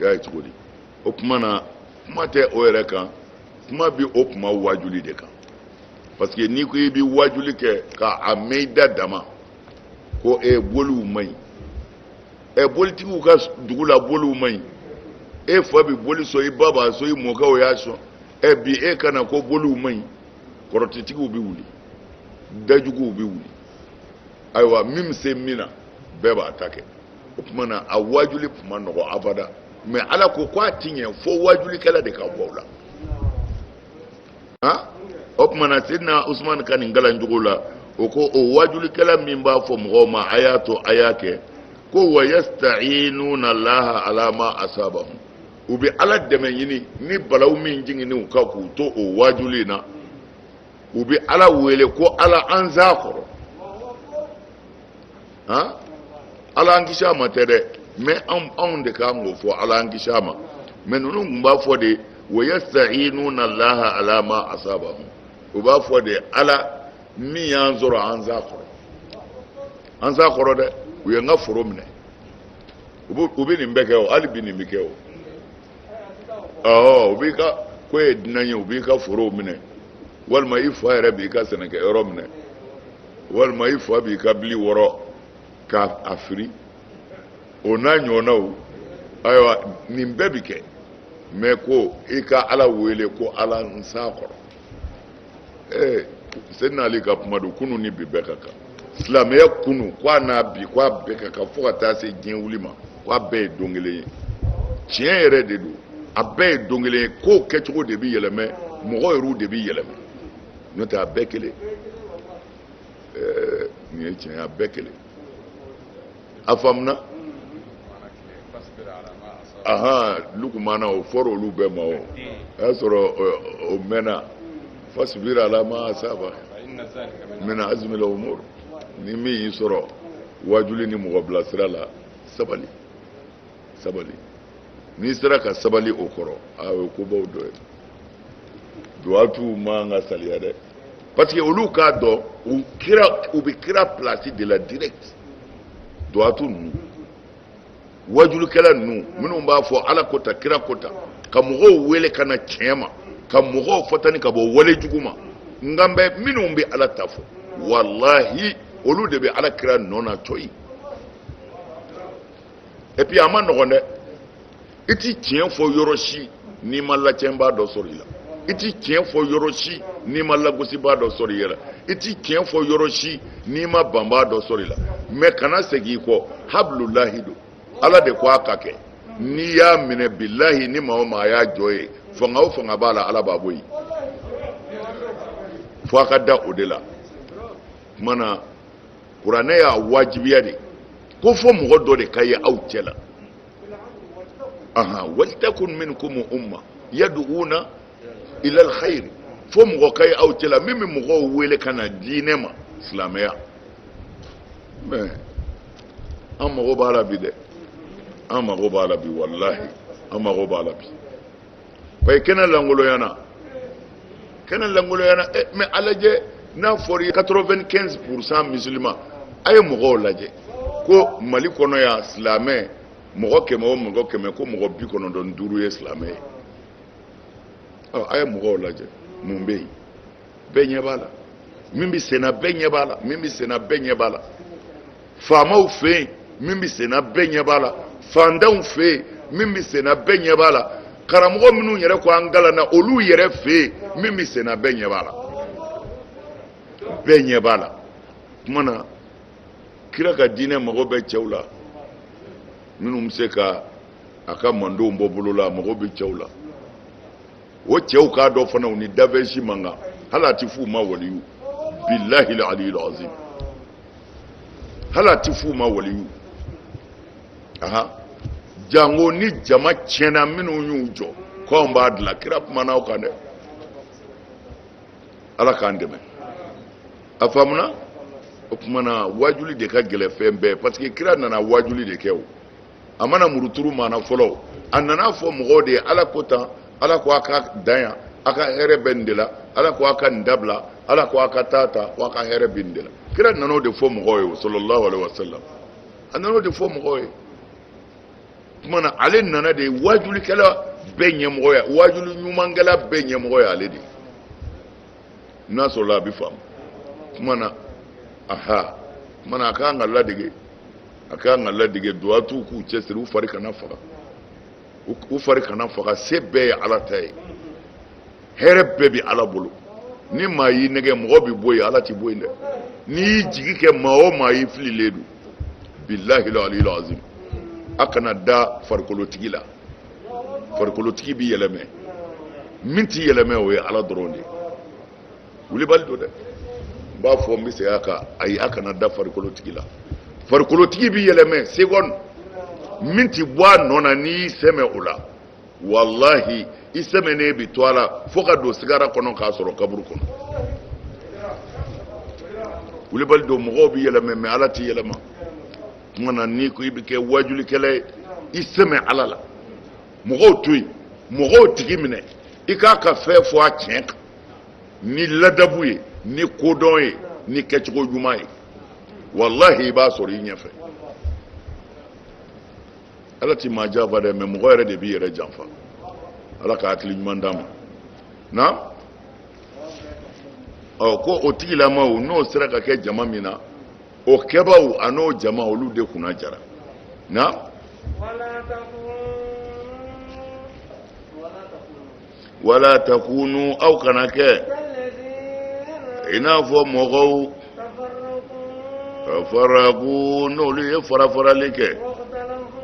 y'a ye cogo di o tuma na kuma tɛ o yɛrɛ kan kuma bɛ o kuma waajuli de kan parce que n'i ko i bɛ waajuli kɛ ka a mɛn i da dama ko ɛ boliw man ɲi ɛ bolitigiw ka dugu la boliw man ɲi e fa bɛ boli sɔn i ba b'a sɔn i mɔkɛw y'a sɔn ɛ bi e ka na ko boliw man ɲi kɔrɔtɛtigiw bɛ wuli dajuguw bɛ wuli ayiwa min bɛ se min na bɛɛ b'a ta kɛ o tuma na a waajuli tun man nɔgɔ abada mais ala ko ko a ti ɲɛ fo waajulikɛla de ka bɔ o la han o tuma na sidina usumani ka nin kalan cogo la o ko o waajulikɛla min b'a fɔ mɔgɔw ma a y'a to a y'a kɛ ko wa yasta'iinuna allaha ala ma asabahum u bɛ ala dɛmɛ ɲini ni balaw min jiginnen u kan k'u to o waajuli in na u bɛ ala wele ko ala an s'a kɔrɔ han ala an kisi a ma tɛ dɛ mais anw anw de kan k'o fɔ ala an kisi a ma mais ninnu tun b'a fɔ de wa yasta'iinuna allaha ala ma asabahum u b'a fɔ de ala min y'an sɔrɔ an s'a kɔrɔ an s'a kɔrɔ dɛ u ye n ka foro minɛ u bɛ u bɛ nin bɛɛ kɛ o hali bi nin bɛ kɛ o ɔ u b'i ka ko ye dunan ye u b'i ka forow minɛ walima i fa yɛrɛ b'i ka sɛnɛkɛ yɔrɔ minɛ walima i fa b'i ka bili wɔrɔ k'a firi o n'a ɲɔgɔnnaw ayiwa nin bɛɛ bi kɛ mais ko i ka ala wele ko ala n s'a kɔrɔ ee sɛni n'ale ka kuma don kunu ni bi bɛɛ ka kan silamɛya kunu k'a n'a bi k'a bɛɛ ka kan fo ka taa se diɲɛ wuli ma k'a bɛɛ ye don kelen ye tiɲɛ yɛrɛ de don a bɛɛ ye don kelen ye kow kɛcogo de bɛ yɛlɛmɛ mɔgɔ yɛrɛw de bɛ yɛlɛmɛ n'o tɛ a bɛɛ kelen ɛɛ nin ye tiɲɛ ye a bɛɛ kelen a faamuna ahan lukumana o fɔra olu bɛɛ ma o y'a sɔrɔ o mɛnna fasibiri ala ma asaba mina azimila umur ni min y'i sɔrɔ waajuli ni mɔgɔ bilasira la sabali sabali n'i sera ka sabali o kɔrɔ a o ye kobaw dɔ ye duwatuw man ka saliya dɛ parce que olu k'a dɔn u kira u bɛ kira place de la direct duwatu ninnu wajulikɛla ninnu minnu b'a fɔ ala ko tan kira ko tan ka mɔgɔw wele ka na tiɲɛ ma ka mɔgɔw fatani ka bɔ wale jugu ma n kan bɛ minnu bɛ ala ta fɔ walahi olu de bɛ ala kira nɔ na cɔyi et puis a man nɔgɔn dɛ i ti tiɲɛ fɔ yɔrɔ si n'i ma lacɛnbaa dɔ sɔrɔ i la i ti tiɲɛ fɔ yɔrɔ si n'i ma lagosibaa dɔ sɔrɔ i yɛrɛ la i ti tiɲɛ fɔ yɔrɔ si n'i ma banbaa dɔ sɔrɔ i la mais kana segin i kɔ habilulahi don ala de ko a ka kɛ n'i y'a minɛ bilahi ni maa o maa y'a jɔ yen fanga o fanga b'a la ala b'a bɔ yen fo a ka da o de la kuma na kuranɛ y'a wajibiya de ko fo mɔgɔ dɔ de ka ye aw cɛ la ahan walitakun minkum umma yad'una ila alkhair fo mɔgɔ ka ye aw cɛ la min bɛ mɔgɔw wele ka na diinɛ ma silamɛya mais an mago b'a la bi dɛ an mago b'a la bi walahi an mago b'a la bi ayi kɛnɛ lankolonyana kɛnɛ lankolonyana eh, mais a lajɛ n'a fɔra i ye 95 pourcent musulman a ye mɔgɔw lajɛ ko mali kɔnɔ yan silamɛ mɔgɔ kɛmɛ o mɔgɔ kɛmɛ ko mɔgɔ bi kɔnɔntɔn ni duuru ye silamɛ ye a ye mɔgɔw lajɛ mun bɛ yen bɛɛ ɲɛ b'a la min bɛ senna bɛɛ ɲɛ b'a la min bɛ senna bɛɛ ɲɛ b'a la faamaw fɛ yen min bɛ senna bɛɛ ɲɛ b'a la fantanw fɛ yen min bɛ senna bɛɛ ɲɛ b'a la karamɔgɔ minnu yɛrɛ ko an kalanna olu yɛrɛ fɛ yen min bɛ senna bɛɛ ɲɛ b'a la bɛɛ ɲɛ b'a la kuma na kira ka diinɛ mago bɛ cɛw la minnu bɛ se ka a ka mantonw bɔ bolo la a mago bɛ cɛw la o cɛw ka dɔgɔ fana u ni dafɛn si man kan hali a tɛ f'u ma waliyu bilahi aliyil azim hali a tɛ f'u ma waliyu aha jango ni jama tiɲɛna minnu y'u jɔ ko anw b'a dilan kira kumana o kan dɛ ala k'an dɛmɛ a faamuna o tuma na waajuli de ka gɛlɛn fɛn bɛɛ parce que kira nana waajuli de kɛ o a ma na muruturu maana fɔ a nana fɔ mɔgɔw de ye ala ko tan ala ko a ka dan yan a ka hɛrɛ bɛ nin de la ala ko a ka nin dabila ala ko a ka taa ta ko a ka hɛrɛ bɛ nin de la kira nana o de fɔ mɔgɔw ye sallallahu alaihi wasallam a nana o de fɔ mɔgɔw ye tuma na ale nana de waajulikɛla bɛɛ ɲɛmɔgɔ ya waajuli ɲumankɛla bɛɛ ɲɛmɔgɔ ye ale de n'a sɔrɔla a bɛ faamu tuma na aha tuma na a ka kan ka ladege a ka kan ka ladege duwatuw k'u cɛsiri u fari kana faga u fari kana faga se bɛɛ ye ala ta ye hɛrɛ bɛɛ bɛ ala bolo ni maa y'i nɛgɛn mɔgɔ bɛ bɔ yen ala tɛ bɔ yen dɛ n'i y'i jigi kɛ maa o maa ye i fililen don bilahi la aliyu azim a kana da farikolotigi la farikolotigi bɛ yɛlɛmɛ min tɛ yɛlɛmɛ o ye ala dɔrɔn de ye wulibali don dɛ n b'a fɔ n bɛ segin a kan ayi a kana da farikolotigi la farikolotigi bɛ yɛlɛmɛ segɔni min ti bɔ a nɔ na n'i y'i sɛmɛ o la walahi i sɛmɛnen bi to a la fo ka don sigara kɔnɔ k'a sɔrɔ kaburu kɔnɔ wulibali don mɔgɔw bɛ yɛlɛmɛ mais ala tɛ yɛlɛma tuma na n'i ko i bɛ kɛ waajulikɛla ye i sɛmɛ ala la mɔgɔw to yen mɔgɔw tigi minɛ i k'a ka fɛn fɔ a tiɲɛ kan ni ladabu ye ni kodɔn ye ni kɛcogo ɲuman ye walahi i b'a sɔrɔ i ɲɛfɛ ala ti maa janfa dɛ mais mɔgɔ yɛrɛ de b'i yɛrɛ janfa ala ka hakili ɲuman d'an ma naam ko o tigilamaw n'o sera ka kɛ jama min na o kɛbaaw ani o jama olu de kunna jara naam wala takunu aw kana kɛ i n'a fɔ mɔgɔw tafaraku n'olu ye farafarali kɛ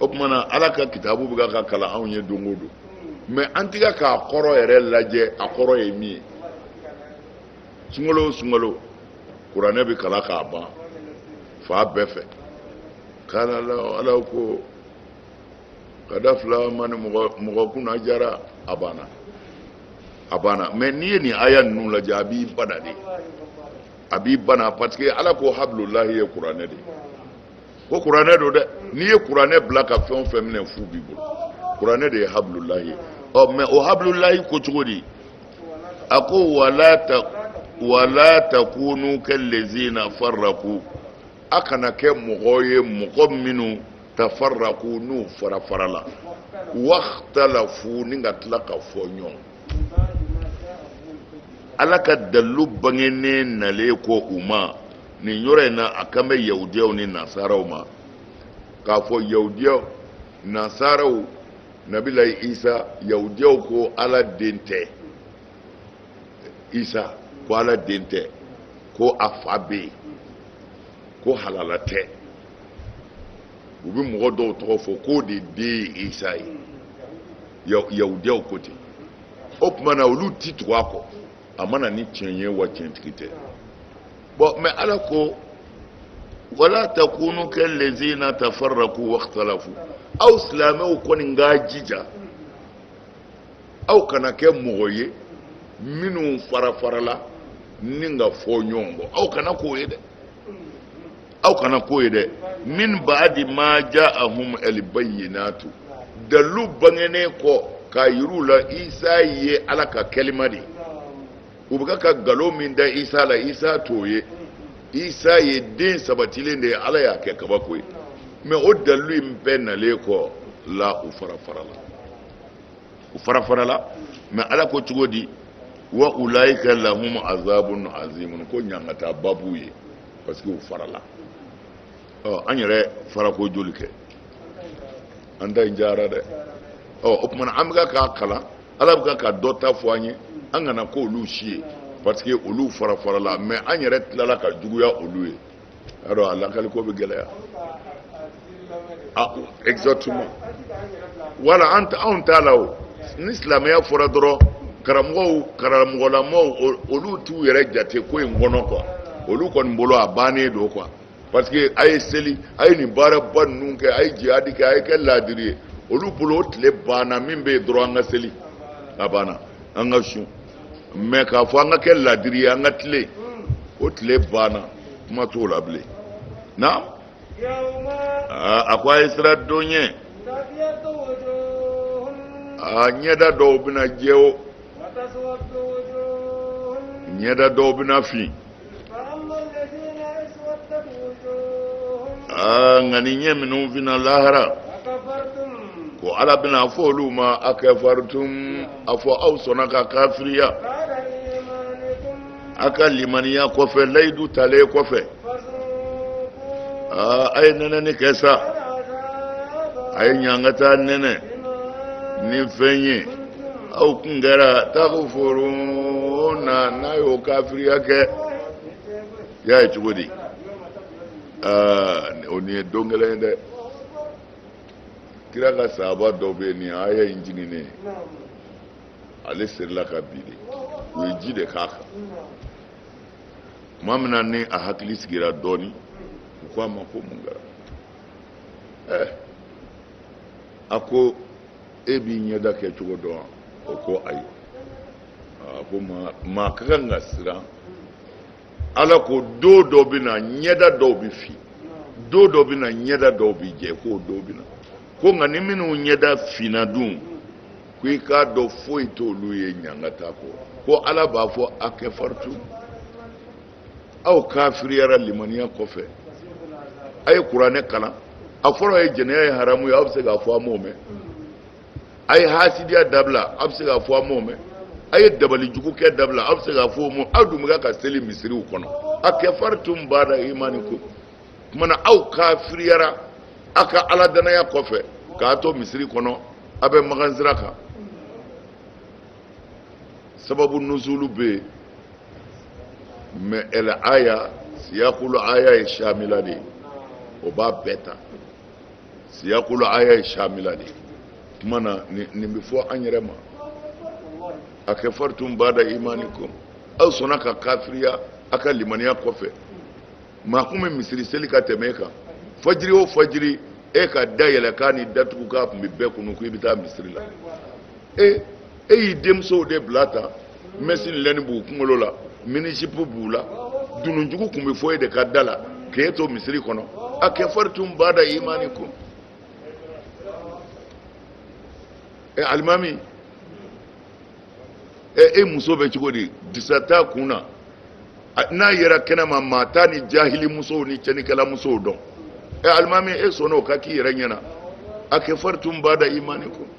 o tuma na ala ka kitabu bɛ ka kalan anw ye don o don mais an tɛ k'a kɔrɔ yɛrɛ lajɛ a kɔrɔ ye min ye sunkalo o sunkalo kuranɛ bɛ kalan k'a ban fan bɛɛ fɛ k'ala ala ko ka da fila ma ni mɔgɔ kunna jara a banna a banna mais n'i ye nin aya ninnu lajɛ a b'i bana de a b'i bana parce que ala ko habululahi ye kuranɛ de ye ko kuranɛ don dɛ n'i ye kuranɛ bila ka fɛn o fɛn minɛ fu b'i bolo kuranɛ de ye habululahi ye ɔ mais o habululahi ko cogo di a ko wala ta wala takunu kallazina farraku a kana kɛ mɔgɔ ye mɔgɔ minnu tafarraku n'u fara farala waktalafu ni ka tila ka fɔ ɲɔgɔn ala ka dalilu bangenen nalen kɔ u ma nin yɔrɔ in na a kan bɛ yahudiyaw ni nasaraw ma k'a fɔ yahudiyaw nasaraw nabilayi isa yahudiyaw ko ala den tɛ isa ko ala den tɛ ko a fa bɛ yen ko halala tɛ u bɛ mɔgɔ dɔw tɔgɔ fɔ k'o de den ye isa ye yahudiyaw ko ten o tuma na olu ti tugu a kɔ a ma na ni tiɲɛ ye wa tiɲɛtigi tɛ bon mais ala ko wala takunu kallazina tafarraku waxtalafu aw silamɛw kɔni k'a jija aw kana kɛ mɔgɔ ye minnu fara farala ni ka fɔ ɲɔgɔn kɔ aw kana k'o ye dɛ aw kana k'o ye dɛ min baadi ma ja ahum alibayinatu dalilu bangenen kɔ k'a yir'u la isa ye ala ka kɛlima de ye u bɛ ka nkalon min da isa la isa t'o ye isa ye den sabatilen de ye ala y'a kɛ kabako ye mais o dalilu in bɛɛ nalen kɔ la u fara farala u fara farala mais ala ko cogo di wa ulaika lahum azabun azimun ko ɲangataba b'u ye parce que u farala ɔ an yɛrɛ farako joli kɛ an ta in jara dɛ ɔ o tuma an bɛ k'a kalan ala bɛ ka dɔ ta fɔ an ye an kana k'olu si ye parce que olu fara farala mais an yɛrɛ tilala ka juguya olu ye y'a dɔn a lakaliko bɛ gɛlɛya exactement voilà an anw t'a la o ni silamɛya fɔra dɔrɔn karamɔgɔw karamɔgɔlamɔw olu t'u yɛrɛ jate ko in kɔnɔ quoi olu kɔni bolo a bannen don quoi parce que a ye seli a ye nin baaraba ninnu kɛ a ye jihadi kɛ a ye kɛ laadiri ye olu bolo o tile banna min bɛ yen dɔrɔn an ka seli a banna an ka sun mais k'a fɔ an ka kɛ laadiri ye an ka tilen o tile banna kuma t'o la bilen a ko a ye siran don ɲɛ a ɲɛda dɔw bɛna jɛ o ɲɛda dɔw bɛna fin aa nka ni ɲɛ minnu finna lahara ko ala bɛna a fɔ olu ma akafaritum a fɔ aw sɔnna ka kafiriya a ka limaniya kɔfɛ layidu talen kɔfɛ aa a ye nɛnɛni kɛ sa a ye ɲangata nɛnɛ ni fɛn ye aw kun kɛra takfuruna n'a y'o kafiriya kɛ y'a ye cogo di aa o nin ye don gɛlɛn ye dɛ kira ka sahaba dɔ bɛ yen nin aya in jiginnen ale serila ka bin de u ye ji de k'a kan tuma min na ni a hakili sigira dɔɔnin u ko a ma ko mun kɛra ɛɛ eh, a ko e b'i ɲɛda kɛcogo dɔn wa o ko ayi a ko maa maa ka kan ka siran ala ko don dɔ bɛ na ɲɛda dɔw bɛ fin don dɔ bɛ na ɲɛda dɔw bɛ jɛ k'o don bɛ na ko nka ni minnu ɲɛda finna dun ko i k'a dɔn foyi t'olu ye ɲangata kɔ ko ala b'a fɔ a kafartum aw kafiriyara limaniya kɔfɛ a ye kuranɛ kalan a fɔra a ye jɛnɛya ye haramu ye aw bɛ se k'a fɔ an m'o mɛn a ye hasidiya dabila a bɛ se k'a fɔ a m'o mɛn a ye dabali jugu kɛ dabila a bɛ se k'a fɔ a m'o mɛn aw dun bɛ ka seli misiriw kɔnɔ a kafartum bada imanikum kumana aw kafiriyara a ka ala danaya kɔfɛ k'a to misiri kɔnɔ a bɛ magan sira kan sababu nuzulu bɛ yen mɛ ɛlɛ aya siyakulu aya ye shamila de ye o b'a bɛɛ ta siyakulu aya ye shamila de kuma na nin bɛ fɔ an yɛrɛ ma a kafartum bada imanikum aw sɔnna ka kafiriya a ka limaniya kɔfɛ maa kun bɛ misiri seli ka tɛmɛ e kan fajiri o fajiri e ka dayɛlɛkan ni datugukan tun bɛ bɛɛ kunun ko i bɛ taa misiri la e e y'i denmusow de bila tan mɛsi lɛni b'u kunkolo la minizipu b'u la dununjugu tun bɛ fɔ e de ka da la k'e to misiri kɔnɔ a kafartum bada imanikum ɛ alimami ɛ e muso bɛ cogo di disa t'a kun na n'a yera kɛnɛ ma maa t'a ni jahili musow ni cɛnikɛla musow dɔn ɛ alimami e sɔnna o ka k'i yɛrɛ ɲɛ na a kafartum bada imanikum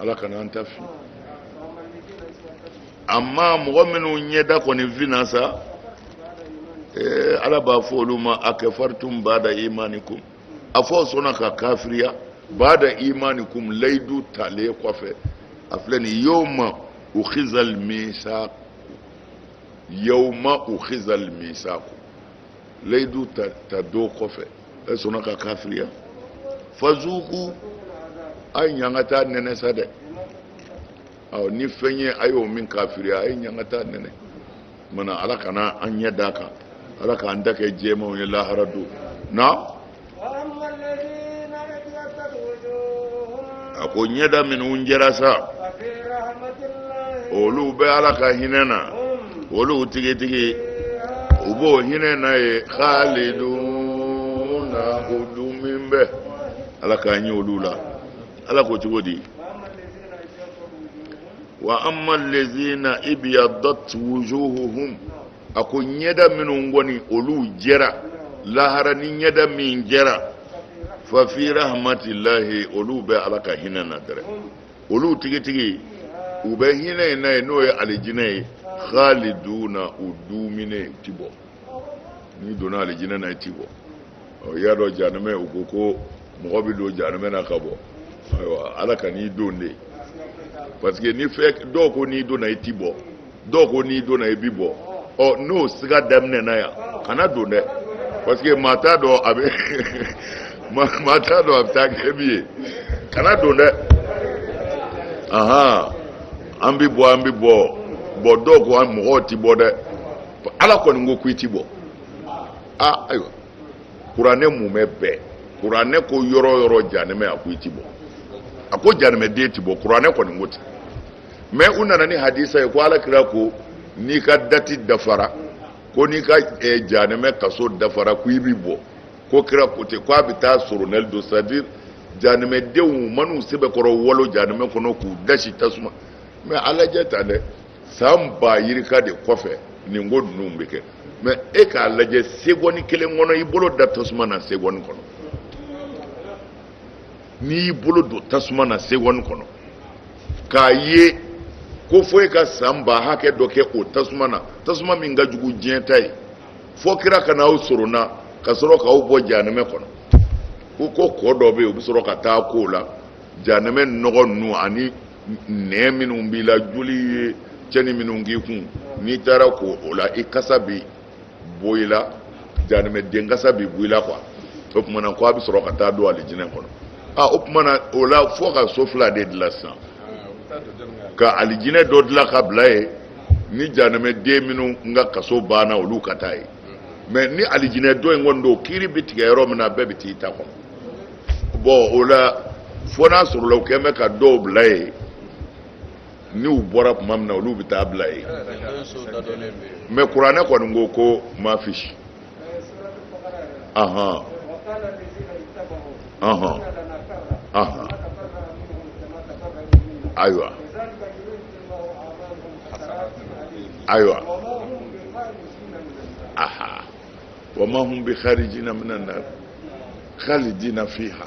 ala kana an lafili amma mɔgɔ minnu ɲɛda kɔni finna sa eh, ala b'a fɔ olu ma a kafartum bada imanikum a fɔ aw sɔnna ka kafiriya bada imanikum layidu talen kɔfɛ a filɛ nin yawma ukhizal misaq yawma ukhizal misaq layidu ta ta don kɔfɛ e sɔnna ka kafiriya fazuku a ye ɲangata nɛnɛ sa dɛ ɔ ni fɛn ye a y'o min kafiriya a ye ɲangata nɛnɛ mana ala kana an ɲɛda ka ala k'an ta kɛ jɛmanw ye lahara don na a ko ɲɛda minnu jɛra sa olu bɛ ala ka hinɛ na olu tigitigi u b'o hinɛ na yen khaliduna u dumɛnen bɛ ala k'an ye olu la ala ko cogo di wa amma lezina ibiyaddat wujuhuhum a ko ɲɛda minnu kɔni olu jɛra lahara ni ɲɛda min jɛra fafi rahmatillahi olu bɛ ala ka hinɛ na dɛrɛ olu tigitigi u bɛ hinɛ in na yen n'o ye alijinɛ ye khaliduna u dumɛnen u ti bɔ n'i donna alijinɛ na i ti bɔ ɔ i y'a dɔn janɛmɛ u ko ko mɔgɔ bɛ don janɛmɛ na ka bɔ ayiwa ala kan'i don dɛ parce que ni fɛn dɔw ko n'i donna i ti bɔ dɔw ko n'i donna i bi bɔ ɔ n'o siga daminɛna yan kana don dɛ parce que maa t'a dɔn a bɛ maa t'a dɔn a bɛ taa kɛ min ye kana don dɛ ahan an bi bɔ an bi bɔ bon dɔw ko an mɔgɔw ti bɔ dɛ ala kɔni ko k'i ti bɔ a ayiwa kuranɛ mumɛ bɛɛ kuranɛ ko yɔrɔ yɔrɔ janɛmɛ a ko i ti bɔ a ko janɛmɛden ti bɔ kuranɛ kɔni ko ten mais u nana ni hadisa ye ko ala kira ko n'i ka dati dafara ko n'i ka eh, janɛmɛ kaso dafara ko i bi bɔ ko kira ko ten ko a bɛ taa soronali don c'est à dire janɛmɛdenw man'u sɛbɛkɔrɔ walon janɛmɛ kɔnɔ k'u dasi tasuma mais a lajɛ tan dɛ san ba yirika de kɔfɛ nin ko ninnu bɛ kɛ mais e k'a lajɛ segɔni kelen kɔnɔ i bolo da tasuma na segɔni kɔnɔ n'i y'i bolo don tasuma na segɔni kɔnɔ k'a ye ko fo e ka san ba hakɛ dɔ kɛ o tasuma na tasuma min ka jugu diɲɛ ta ye fo kira ka n'aw sorona ka sɔrɔ k'aw bɔ jahanɛmɛ kɔnɔ ko ko kɔ dɔ bɛ yen u bɛ sɔrɔ ka taa ko o la jahanɛmɛ nɔgɔ ninnu ani nɛn minnu b'i la joli ye cɛni minnu k'i kun n'i taara ko o la i kasa bɛ bɔ i la janimɛden kasa bi bɔ i la quoi o tuma na ko a bɛ sɔrɔ ka taa don alijinɛ kɔnɔ aa o tuma na o la fo ka so fila de dilan sisan ka alijinɛ dɔ dilan ka bila yen ni janimɛden minnu ka kaso banna olu ka taa yen mais ni alijinɛ dɔ in kɔni don kiri bɛ tigɛ yɔrɔ min na bɛɛ bɛ t'i ta kɔnɔ bon o la fo n'a sɔrɔla u kɛn bɛ ka dɔw bila yen n'u bɔra tuma min na olu bɛ taa bila yen mais kuranɛ kɔni ko ko mafish ahan ahan ahan ayiwa ayiwa aha wa ma hum bi kharijina minan nar khalidina fiha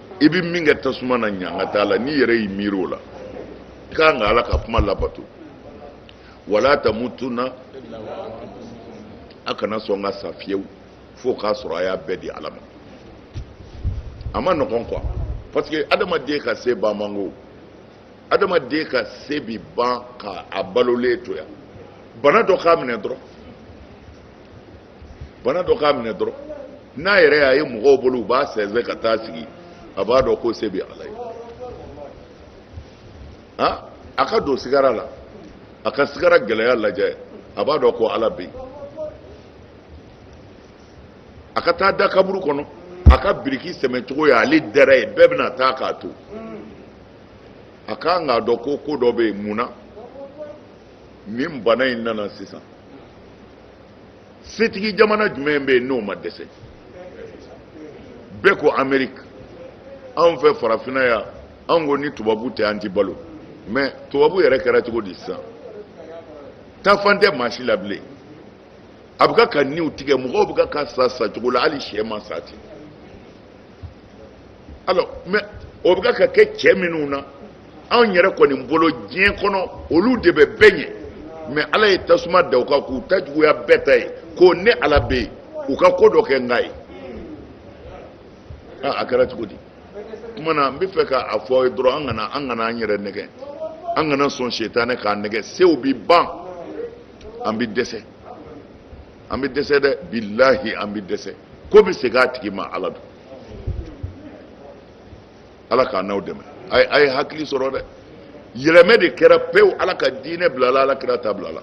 i bɛ min kɛ tasuma na ɲangata la n'i yɛrɛ y'i miiri o la i ka kan ka ala ka kuma labato wala tamutuna a kana sɔn ka sa fiyewu fo k'a sɔrɔ a y'a bɛɛ di ala ma a man nɔgɔn quoi parce que adamaden ka se ban man go adamaden ka se bi ban ka a balolen to yan bana dɔ k'a minɛ dɔrɔn bana dɔ k'a minɛ dɔrɔn n'a yɛrɛ y'a ye mɔgɔw bolo u b'a sɛnsɛn ka taa sigi a b'a dɔn ko se bɛ ala ye han a ka don sigara la a ka sigara gɛlɛya lajɛ a b'a dɔn ko ala bɛ yen a ka taa da kaburu kɔnɔ a ka biriki sɛmɛ cogo ye ale dɛrɛ ye bɛɛ bɛna taa k'a to a ka kan k'a dɔn ko ko dɔ bɛ yen mun na nin bana in nana sisan setigi jamana jumɛn bɛ yen n'o ma dɛsɛ bɛɛ ko ameriki anw fɛ farafinna yan anw ko ni tubabu tɛ an ti balo mais tubabu yɛrɛ kɛra cogo di sisan taafan tɛ maa si la bilen a bɛ ka ka niw tigɛ mɔgɔw bɛ ka ka sa sa cogo la hali sɛ ma sa ten alors mais o bɛ ka ka kɛ cɛ minnu na anw yɛrɛ kɔni bolo diɲɛ kɔnɔ olu de bɛ bɛɛ ɲɛ mais ala ye tasuma da u kan k'u ta juguya bɛɛ ta ye ko ne ala bɛ yen u ka ko dɔ kɛ n k'a ye aa a kɛra cogo di kuma na n bɛ fɛ k'a fɔ aw ye dɔrɔn an kana an kana an yɛrɛ nɛgɛn an kana sɔn setanɛ k'an nɛgɛn sew bɛ ban an bɛ dɛsɛ an bɛ dɛsɛ dɛ bilahi an bɛ dɛsɛ ko bɛ segin a tigi ma ala don ala k'an n'aw dɛmɛ a ye hakili sɔrɔ dɛ yɛlɛmɛ de kɛra pewu ala ka diinɛ bilala ala kira ta bilala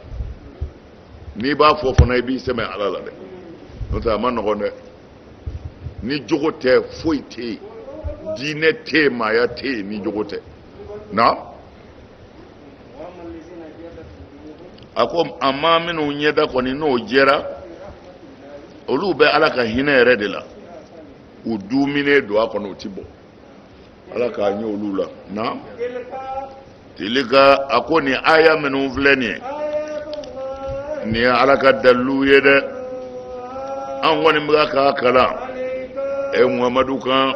n'i b'a fɔ fana i b'i sɛmɛ ala la dɛ n'o tɛ a man nɔgɔn dɛ ni jogo tɛ foyi tɛ yen diinɛ tɛ yen maaya tɛ yen ni jogo tɛ na a ko amma minnu ɲɛda kɔni n'o jɛra olu bɛ ala ka hinɛ yɛrɛ de la u duumɛnen don a kɔnɔ u ti bɔ ala k'an kɛ olu la na tilka a ko nin aya minnu filɛ nin ye nin ye ala ka dalilu ye dɛ an kɔni bɛ k'a kalan ɛ muhamadu kan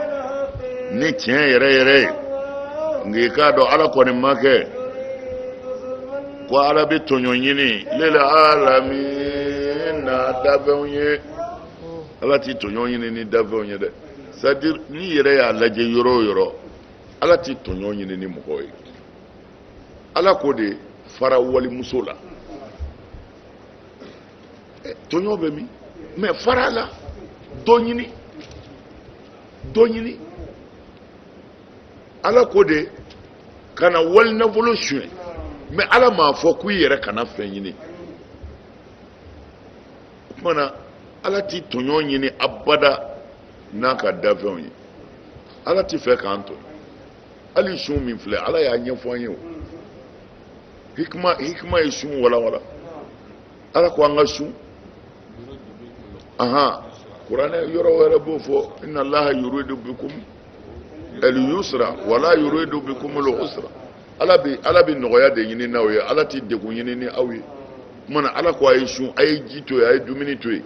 ni tiɲɛ yɛrɛ yɛrɛ ye nka i k'a dɔn ala kɔni ma kɛ ko ala bɛ tɔɲɔ ɲini lil alamin n'a dafɛnw ye ala ti tɔɲɔ ɲini ni dafɛnw ye dɛ sadi n'i yɛrɛ y'a lajɛ yɔrɔ o yɔrɔ ala ti tɔɲɔ ɲini ni mɔgɔ ye ala ko de fara walimuso la tɔɲɔ bɛ min mɛ fara a la dɔ ɲini dɔ ɲini ala ko de kana wali nafolo suɲɛ mɛ ala m'a fɔ k'i yɛrɛ kana fɛn ɲini o tuma na ala ti tɔɲɔ ɲini abada n'a ka dafɛnw ye ala ti fɛ k'an tɔɲɔ hali sun min filɛ ala y'a ɲɛfɔ an ye o hikima hikima ye sun walawala ala ko an ka sun ahan kuranɛ yɔrɔ wɛrɛ b'o fɔ inna allaha yuridu bikum al yusra wala yuridu bikum al usra ala bi ala bi nɔgɔya de ɲini n'aw ye ala ti degun ɲini ni aw ye kuma na ala ko a ye sun a ye ji to yen a ye dumuni to yen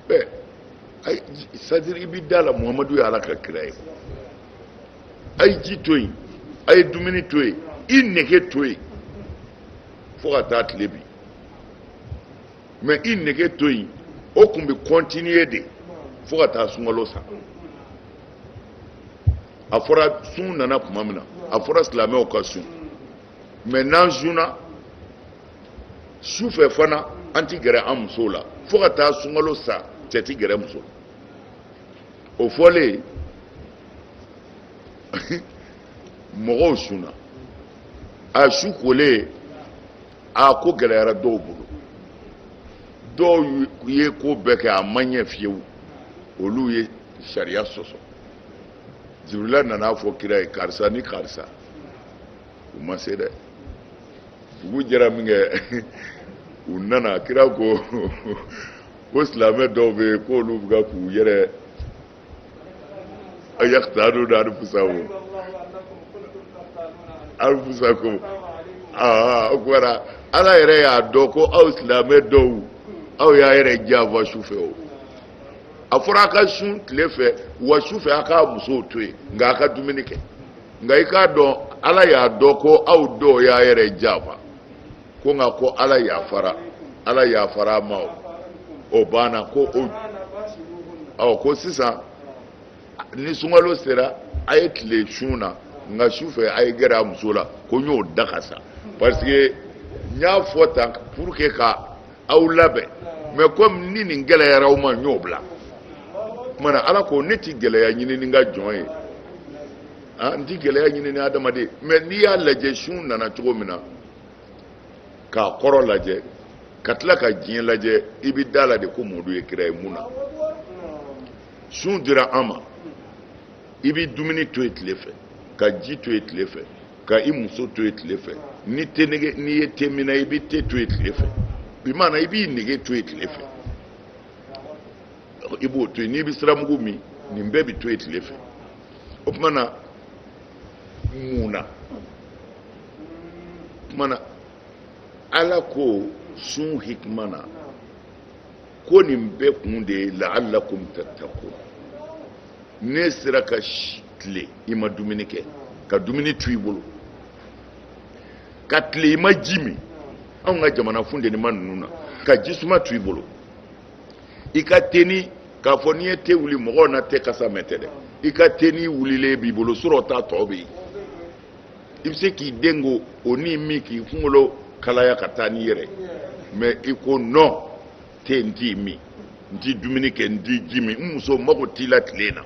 bɛɛ sadiri i bi da la muhamadu ye ala ka kira ye a ye ji to yen a ye dumuni to yen i nege to yen fo ka taa tile bin mɛ i nege to yen o tun bɛ kɔntiniye de fo ka taa sunkalo sa a fɔra sun nana tuma min na a fɔra silamɛw ka sun mɛ n'an sunna su fɛ fana an ti gɛrɛ an musow la fo ka taa sunkalo sa cɛ ti gɛrɛ muso la o fɔlen mɔgɔw sunna a su kolen a ko gɛlɛyara dɔw bolo dɔw ye ko bɛɛ kɛ a ma ɲɛ fiyewu olu ye sariya sɔsɔ jibirila nana a fɔ kira ye karisa ni karisa u ma se dɛ dugu jɛra minkɛ u nana kira ko ko silamɛ dɔw bɛ yen k'olu bɛ k'u yɛrɛ yakitanuna anfusahum anfusakum aa o kɔrɔ ala yɛrɛ y'a dɔn ko aw silamɛ dɔw aw y'a yɛrɛ janfa su fɛ o a fɔra a ka sun tile fɛ wa su fɛ a k'a musow to yen nka a ka dumuni kɛ nka i k'a dɔn ala y'a dɔn ko aw dɔw y'a yɛrɛ janfa ko nka ko ala yafara ala yafara a ma o banna ko o ɔ ko sisan ni sunkalo sera a ye tile sun na nka su fɛ a ye gɛrɛ a muso la ko n y'o daga sa parce que n y'a fɔ tan pour que ka aw labɛn mais comme ni nin gɛlɛyara aw ma n y'o bila kumana ala ko ne ti gɛlɛya ɲini ni n ka jɔn ye ah, n ti gɛlɛya ɲini ni adamaden mais n'i y'a lajɛ sun nana cogo min na k'a kɔrɔ lajɛ ka tila ka diɲɛ lajɛ i bɛ da la de ko mɔdu ye kira ye mun na sun dira an ma i bɛ dumuni to yen tile fɛ ka ji to yen tile fɛ ka i muso to yen tile fɛ ni te nege n'i ye teminna i bɛ te to yen tile fɛ bi maana i b'i nege to yen tile fɛ i b'o to yen n'i bɛ siramugu min nin bɛɛ bɛ to yen tile fɛ o tuma na mun na kumana ala ko sun hikima na ko nin bɛɛ kun de ye laalakum tattaqun n'i sera ka tile i ma dumuni kɛ ka dumuni to i bolo ka tile i ma ji min anw ka jamana funtenima ninnu na ka jisuma to i bolo i ka teni k'a fɔ n'i ye te wuli mɔgɔw na te kasa mɛn tɛ dɛ i ka teni wulilen b'i bolo surɔ ta tɔ bɛ yen i bɛ se k'i dɛn k'o ni min k'i kunkolo kalaya ka taa n'i yɛrɛ mais i ko non te n t'i min n ti dumuni kɛ n ti ji min n muso mago t'i la tile na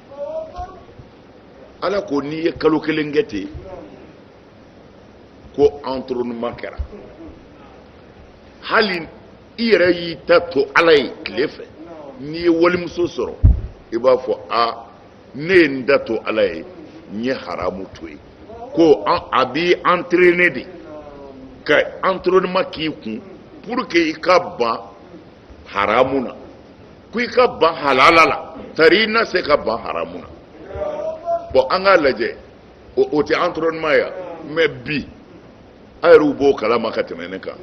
ala ko n'i ye kalo kelen kɛ ten ko entraînement kɛra hali i yɛrɛ y'i ta to ala ye tile fɛ n'i ye walimuso sɔrɔ i b'a fɔ a ne ye n ta to ala ye n ye haramu to yen ko a b'i entraîner de ka entraînement k'i kun pour que i ka ban haramu na ko i ka ban halala la tari i na se ka ban haramu na bon an k'a lajɛ o tɛ entraînement ye mais bi a yɛrɛw b'o kalama ka tɛmɛ ne kan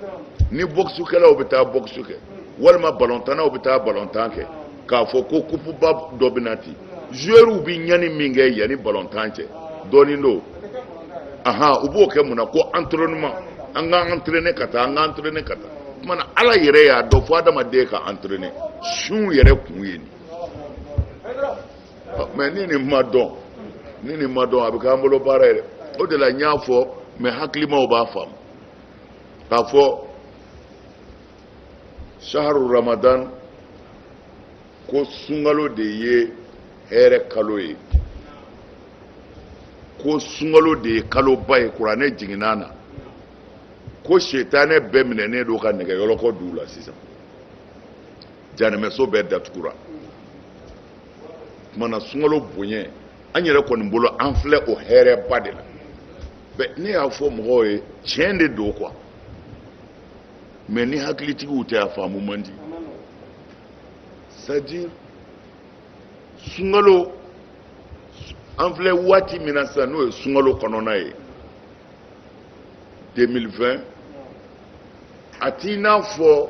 ni bɔkisukɛlaw bɛ taa bɔkisu kɛ walima balɔntanaw bɛ taa balɔntan kɛ k'a fɔ ko kupuba dɔ bɛ na tan zuwɛriw bɛ ɲani min kɛ yanni balɔntan cɛ dɔɔnin don ahan u b'o kɛ mun na ko entraînement an k'an entraîner ka taa an k'an entraîner ka taa o tuma na ala yɛrɛ y'a dɔn fo adamaden ka entraîner sun yɛrɛ kun ye nin mɛ ni nin ma dɔn ni nin ma dɔn a bɛ k'an bolo baara yɛrɛ o de la n y'a fɔ maa hakilimaw b'a faamu k'a fɔ saharu ramadan ko sunkalo de ye hɛrɛ kalo ye ko sunkalo de ye kaloba ye kuranɛ jiginna na ko setanɛ bɛɛ minɛnen don ka nɛgɛ yɔlɔkɔ don u la sisan janɛmɛso bɛɛ datugura o tumana sunkalo bonya an yɛrɛ kɔni bolo an filɛ o hɛrɛba de la bi ne y'a fɔ mɔgɔw ye tiɲɛ de don quoi mɛ ni hakilitigiw tɛ a faamu man di c'est-à-dire sunkalo an filɛ waati min na sisan n'o ye sunkalo kɔnɔna ye 2020 a t'i n'a fɔ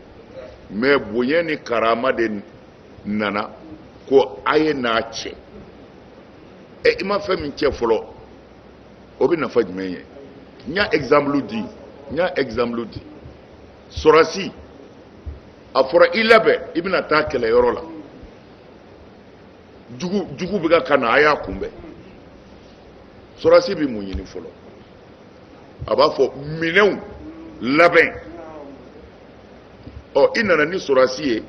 mɛ bonya ni karama de nana ko a ye n'a cɛ ɛ i ma fɛn min cɛ fɔlɔ o bɛ nafa jumɛn ye n y'a exemple di n y'a exemple di sɔrɔdasi a fɔra i labɛn i bɛna taa kɛlɛyɔrɔ la jugu jugu bɛ ka ka na a y'a kunbɛn sɔrɔdasi bɛ mun ɲini fɔlɔ a b'a fɔ minɛnw labɛn ɔ i nana ni sɔrɔdasi ye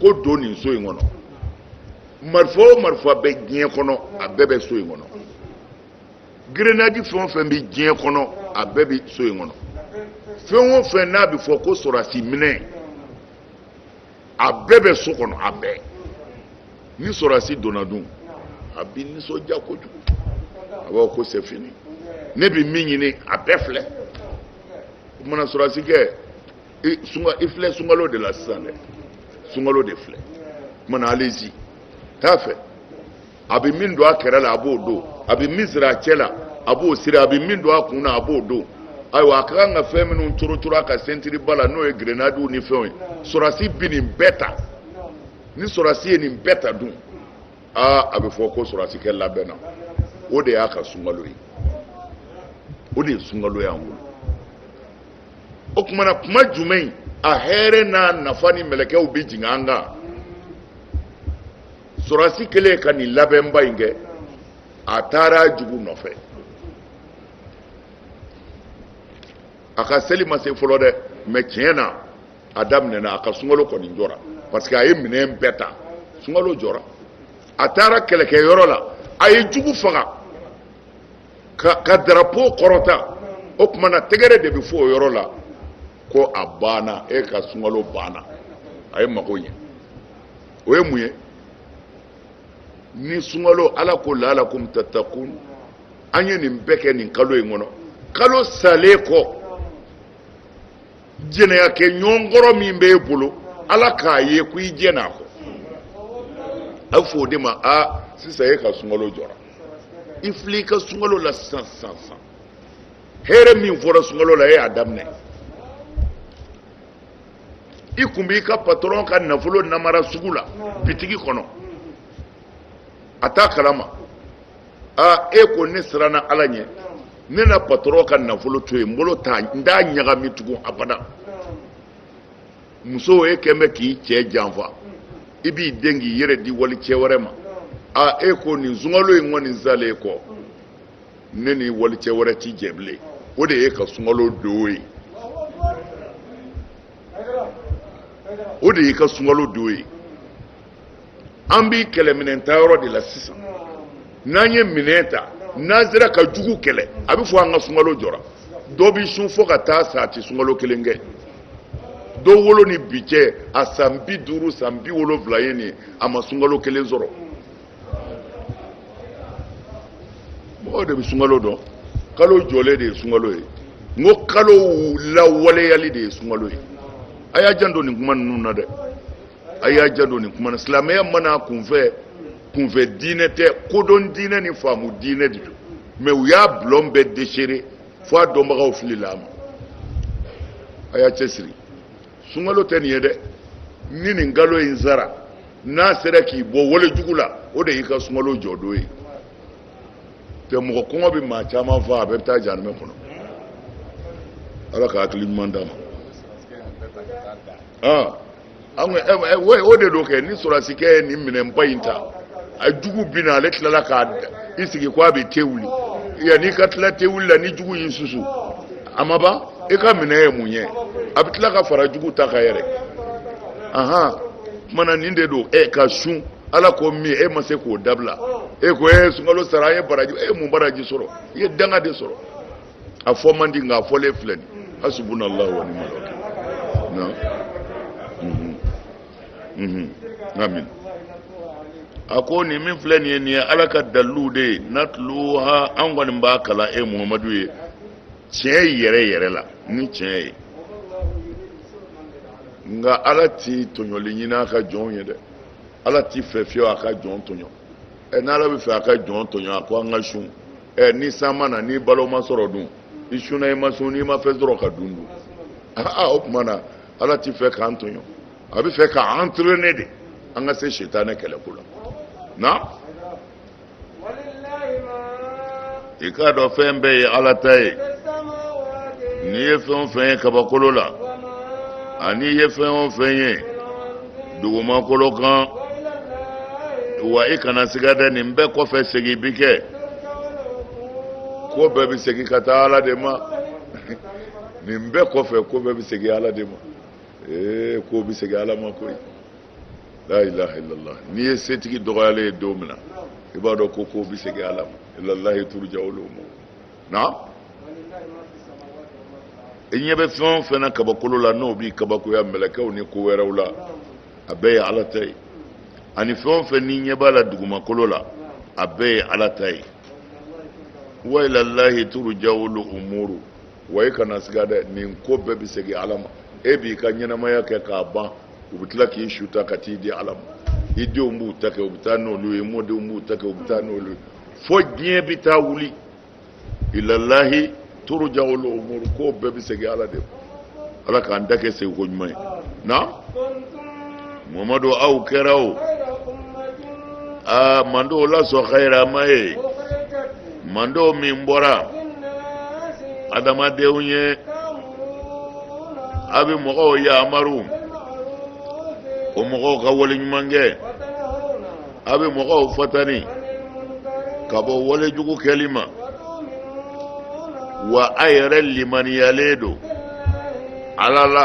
ko don nin so in kɔnɔ marifa o marifa bɛ diɲɛ kɔnɔ a bɛɛ bɛ so in kɔnɔ grenadi fɛn o fɛn bɛ diɲɛ kɔnɔ a bɛɛ bɛ so in kɔnɔ fɛn o fɛn n'a bɛ fɔ ko sɔrɔdasi minɛn a bɛɛ bɛ so kɔnɔ a bɛɛ ni sɔrɔdasi donna dun a bɛ nisɔndiya kojugu a b'a fɔ ko c'est fini ne bɛ min ɲini a bɛɛ filɛ o tumana sɔrɔdasikɛ i sunka i filɛ sunkalo de la sisan dɛ sunkalo de filɛ o tumana allez-y taa fɛ. a bɛ min don a kɛrɛ la a b'o don a bɛ min siri a cɛ la a b'o siri a bɛ min don a kun na a b'o don ayiwa a ka kan ka fɛn minnu corocooro a ka sentiriba la n'o ye gerenadiw ni fɛnw ye sɔrɔdasi bɛ nin bɛɛ ta ni sɔrɔdasi ye nin bɛɛ ta dun aa a bɛ fɔ ko sɔrɔdasikɛ labɛnna o de y'a ka sunkalo ye o de ye sunkalo y'an bolo o tumana kuma jumɛn a hɛrɛ n'a nafa ni mɛlɛkɛw bɛ jigin an kan sɔrɔdasi kɛlen ka nin labɛnba in kɛ a taara jugu nɔfɛ a ka seli ma se fɔlɔ dɛ mɛ tiɲɛ na a daminɛna a ka sunkalo kɔni jɔra parce que a ye minɛn bɛɛ ta sunkalo jɔra a taara kɛlɛkɛyɔrɔ la a ye jugu faga k'a ka darapo kɔrɔta o tuma na tɛgɛrɛ de bɛ fɔ o yɔrɔ la ko a banna e ka sunkalo banna a ye mago ɲɛ o ye mun ye ni sunkalo ala ko laalakum tatakun an ye nin bɛɛ kɛ nin kalo in kɔnɔ kalo salen kɔ jɛnɛya kɛ ɲɔgɔn kɔrɔ min bɛ e bolo ala k'a ye ko i jɛnn'a kɔ a bɛ fɔ o de ma a sisan e ka sunkalo jɔra i filɛ i ka sunkalo la sisan sisan sisan hɛrɛ min fɔra sunkalo la e y'a daminɛ i tun b'i ka patɔrɔn ka nafolo namara sugu la bitigi kɔnɔ a t'a kalama aa e ko ne siranna ala ɲɛ ne na patɔrɔn ka nafolo to yen n bolo t'a n t'a ɲagami tugun abada muso e tun bɛ k'i cɛ janfa i b'i dɛn k'i yɛrɛ di walicɛ wɛrɛ ma aa e ko nin sunkalo in kɔni salen kɔ ne ni walicɛ wɛrɛ ti jɛ bilen o de y'i ka sunkalo don ye o de y'i ka sunkalo don ye an bi kɛlɛminɛn ta yɔrɔ de la sisan n'an ye minɛn ta n'an sera ka jugu kɛlɛ a bɛ fɔ an ka sunkalo jɔra dɔ bɛ sun fo ka taa sa a tɛ sunkalo kelen kɛ dɔ wolo ni bi cɛ a san bi duuru san bi wolonwula ye nin ye a ma sunkalo kelen sɔrɔ mɔgɔw de bɛ sunkalo dɔn kalo jɔlen de ye sunkalo ye n ko kalo lawaleyali de ye sunkalo ye a y'a janto nin kuma ninnu na dɛ a y'a janto nin kuma na silamɛya mana kunfɛ kunfɛ diinɛ tɛ kodɔn diinɛ ni faamu diinɛ de don mɛ u y'a bulɔn bɛɛ desere fo a dɔnbagaw filila a ma a y'a cɛsiri sunkalo tɛ nin ye dɛ ni nin kalo in sara n'a sera k'i bɔ wale jugu la o de y'i ka sunkalo jɔdon ye tɛ mɔgɔ kɔngɔ bɛ maa caman faa a bɛɛ bɛ taa janimɛ kɔnɔ ala ka hakili ɲuman d'an ma ah, o de don kɛ ni sɔrɔdasikɛ ye nin minɛnba in ta a jugu bi na ale tilala k'i sigi ko a bɛ te wuli yanni i ka tila te wuli la ni jugu y'i susu a ma ban i ka minɛn ye mun ye a bɛ tila ka fara jugu ta kan yɛrɛ ahan kumana nin de don e ka sun ala ko min e ma se k'o dabila e ko e sunkalo sara e baraji e mun baraji sɔrɔ i ye danga de sɔrɔ a fɔ man di nka a fɔlen filɛ nin hasubunallahu wa nimal wakil mhm. amin a ko nin min filɛ nin ye nin ye ala ka dalilu de ye natluha an kɔni b'a kalan e muhamadu ye tiɲɛ yɛrɛ yɛrɛ la ni tiɲɛ ye nka ala ti tɔɲɔli ɲini a ka jɔnw ye dɛ ala ti fɛ fiyewu a ka jɔn tɔɲɔ ɛ n'ala bɛ fɛ a ka jɔn tɔɲɔ a ko an ka sun ɛ ni san ma na ni balo ma sɔrɔ dun i sunna i ma sun n'i ma fɛn sɔrɔ ka dun dun aa o tuma na ala tɛ fɛ k'an tɔɲɔ a bɛ fɛ ka entraîner de an ka se sitanɛ kɛlɛko la na i k'a dɔn fɛn bɛɛ ye ala ta ye n'i ye fɛn o fɛn ye kabakolo la ani i ye fɛn o fɛn ye dugumakolo kan wa i kana siga dɛ nin bɛɛ kɔfɛ segin bi kɛ ko bɛɛ bɛ segin ka taa ala de ma nin bɛɛ kɔfɛ ko bɛɛ bɛ segin ala de ma ee ko bɛ segin ala ma koyi la ilaha illallah n'i ye setigi dɔgɔyalen ye don min na i b'a dɔn ko ko bɛ segin ala ma ilallahi turja'ul umur na i ɲɛ bɛ fɛn o fɛn na kabakolo la n'o b'i kabakoya mɛlɛkɛw ni ko wɛrɛw la a bɛɛ ye ala ta ye ani fɛn o fɛn n'i ɲɛ b'a la dugumakolo la a bɛɛ ye ala ta ye wa ilallahi turja'ul umur wa i kana siga dɛ nin ko bɛɛ bɛ segin ala ma e b'i ka ɲɛnamaya kɛ k'a ban u bɛ tila k'i su ta ka t'i di ala ma i denw b'u ta kɛ u bɛ taa n'olu ye mɔdenw b'u ta kɛ u bɛ taa n'olu ye fo diɲɛ bɛ taa wuli ilallahi turja'ul umur ko bɛɛ bɛ segin ala de ma ala k'an ta kɛ seginko ɲuman ye na mamadu aw kɛra o aa mandenw la sɔn hayirama ye manden min bɔra adamadenw ye a bɛ mɔgɔw yamaru o mɔgɔw ka wale ɲuman kɛ a bɛ mɔgɔw fatani ka bɔ wale jugu kɛli ma wa a yɛrɛ limaniyalen don ala la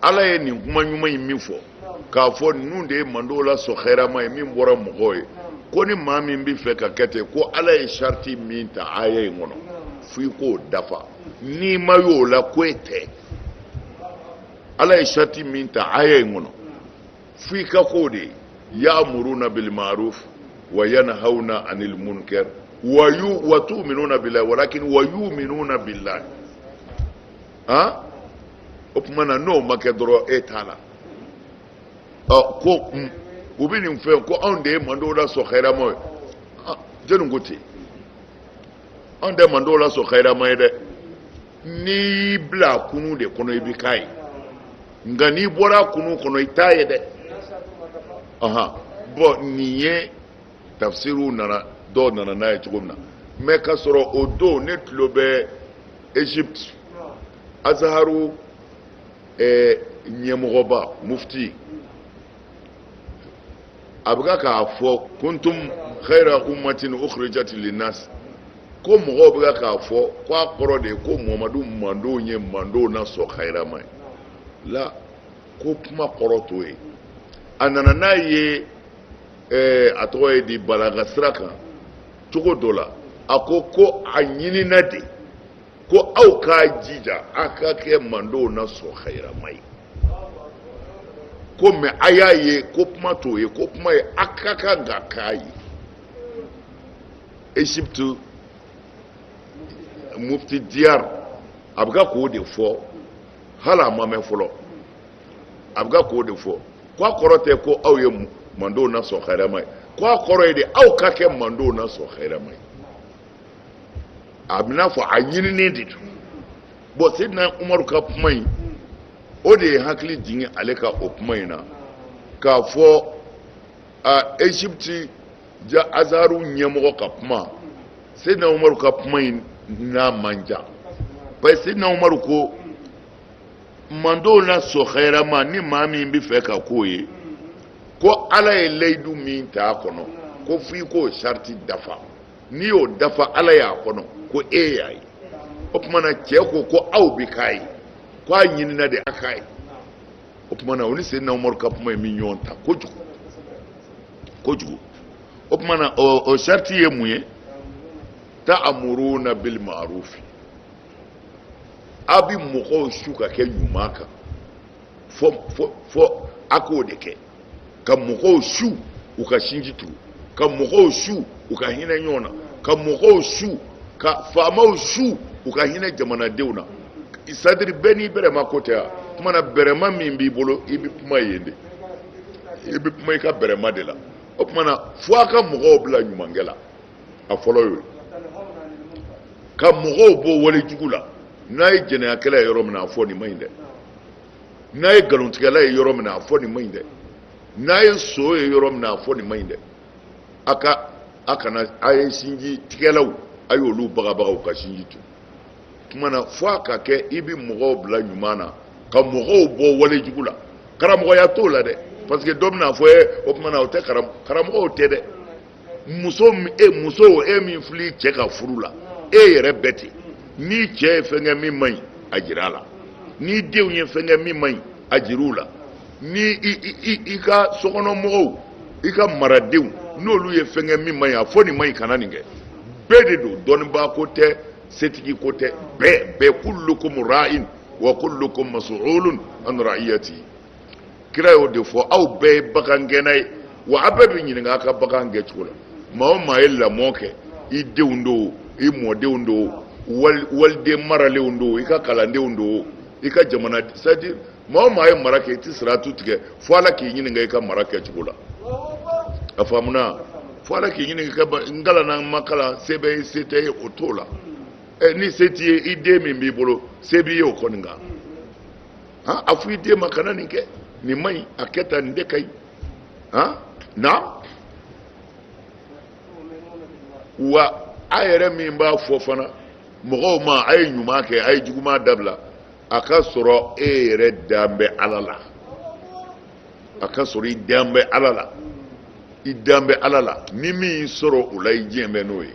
ala ye nin kuma ɲuman in min fɔ k'a fɔ ninnu de ye mandenw la sɔn hayirama ye min bɔra mɔgɔw ye ko ni maa min bɛ fɛ ka kɛ ten ko ala ye sariti min ta aya in kɔnɔ f'i k'o dafa n'i ma y'o la ko e tɛ ala ye sariti min ta aya in kɔnɔ f'i ka k'o de ye ya'muruna bil ma'ruf wa yanhauna 'anil munkar wa yu wa tu'minuna billahi walakin wa yu'minuna billahi a o tuma na n'o ma kɛ dɔrɔn e t'a la ɔ ko u bɛ nin fɛ ko anw de ye mandenw la sɔn hayirama ye jɔnni ko ten anw tɛ mandenw la sɔn hayirama ye dɛ n'i y'i bila a kunun de kɔnɔ i bɛ k'a ye nka n'i bɔra a kunun kɔnɔ i t'a ye dɛ bɔn nin ye tafsiriw nana dɔw nana n'a ye cogo min na mɛ ka sɔrɔ o don ne tulo bɛ egypte azaharu eh, ɲɛmɔgɔba mufti a bɛ ka k'a fɔ kuntum khayra ummatin ukhrijat linnas ko mɔgɔw bɛ ka k'a fɔ ko a kɔrɔ de ye ko muhamadu manton ye mantonw na sɔn khayrama ye ale ko kuma kɔrɔ t'o ye a nana n'a ye ɛɛ a tɔgɔ ye di balaka sira kan cogo dɔ la a ko ko a ɲinina de ko aw k'a jija a ka kɛ mantonw na sɔn hayirama ye ko mɛ a y'a ye ko kuma t'o ye ko kuma ye a ka kan ka k'a ye egypte mufti diyar a bɛ ka k'o de fɔ hali a ma mɛn fɔlɔ a bɛ ka k'o de fɔ ko a kɔrɔ tɛ ko aw ye mantonw na sɔn hayirama ye ko a kɔrɔ ye de aw ka kɛ mantonw na sɔn hayirama ye a b'i n'a fɔ a ɲinini de don bɔn seydina umaru ka kuma in o de ye hakili jigin ale ka o kuma in na k'a fɔ a egypte ja azaru ɲɛmɔgɔ ka kuma seydina umaru ka kuma in n'a man jan parce que seydina umaru ko mantonw na sɔn hayirama ni maa min b'a fɛ ka k'o ye ko ala ye layidu min ta a kɔnɔ ko f'i k'o sariti dafa n'i y'o dafa ala y'a kɔnɔ ko e y'a ye o tuma na cɛ ko ko aw bɛ k'a ye ko a ɲinina de a k'a ye o tuma na o ni seydina umaru ka kuma in bɛ ɲɔgɔn ta kojugu kojugu o tuma na o sariti ye mun ye ta'amuruna bil ma'rufi aw bɛ mɔgɔw su ka kɛ ɲuman kan fo fo fo a k'o de kɛ ka mɔgɔw su u ka sinji tugu ka mɔgɔw su u ka hinɛ ɲɔgɔn na ka mɔgɔw su ka faamaw su u ka hinɛ jamanadenw na c'est-à-dire bɛɛ n'i bɛrɛma ko tɛ yan kuma na bɛrɛma min b'i bolo i bɛ kuma yen de i bɛ kuma i ka bɛrɛma de la o tuma na fo a ka mɔgɔw bila ɲumankɛ la a fɔlɔ y'o ye ka mɔgɔw bɔ wale jugu la n'a ye jɛnɛyakɛla ye yɔrɔ min na a fɔ nin man ɲi dɛ n'a ye nkalontigɛla ye yɔrɔ min na a fɔ nin man ɲi dɛ n'a ye son ye yɔrɔ min na a fɔ nin man ɲi dɛ a ka a kana a ye sinji tigɛlaw a y'olu bagabaga u ka sinji tugu o tuma na fo a ka kɛ i bɛ mɔgɔw bila ɲuman na ka mɔgɔw bɔ wale jugu la karamɔgɔya t'o la dɛ parce que dɔ bɛna a fɔ ye o tuma na o tɛ karamɔgɔw tɛ dɛ muso e muso e min fili cɛ ka furu la e yɛrɛ bɛɛ ten n'i cɛ ye fɛn kɛ min man ɲi a jira a la n'i denw ye fɛn kɛ min man ɲi a jir'u la ni i i i ka sokɔnɔmɔgɔw i ka maradenw n'olu ye fɛn kɛ min man ɲi a fɔ nin man ɲi kana nin kɛ bɛɛ de don dɔnnibaa ko tɛ setigi ko tɛ bɛɛ bɛɛ kullukum ra'in wa kullukum mas'ulun an ra'iyatihi kira y'o de fɔ aw bɛɛ ye bagangɛnna ye wa aw bɛɛ bɛ ɲininka aw ka bagan gɛncogo la maa o maa ye lamɔ kɛ i denw don i mɔdenw don wali waliden maralenw don i ka kalandenw don i ka jamana c'est-à-dire maa o maa ye mara kɛ i tɛ siratu tigɛ fo ala k'i ɲininka i ka mara kɛcogo la a faamuna fo ala k'i ɲininka i ka ba- n kalanna n ma kalan se bɛ n ye se tɛ n ye o t'o la ɛ ni se t'i ye i den min b'i bolo se b'i ye o kɔni kan han a fɔ i den ma kana nin kɛ nin man ɲi a kɛ tan nin de ka ɲi han naam wa a yɛrɛ min b'a fɔ fana mɔgɔw ma a ye ɲuman kɛ a ye juguman dabila a ka sɔrɔ e yɛrɛ dan bɛ ala la a ka sɔrɔ i dan bɛ ala la i dan bɛ ala la ni min y'i sɔrɔ o la i diɲɛ bɛ n'o ye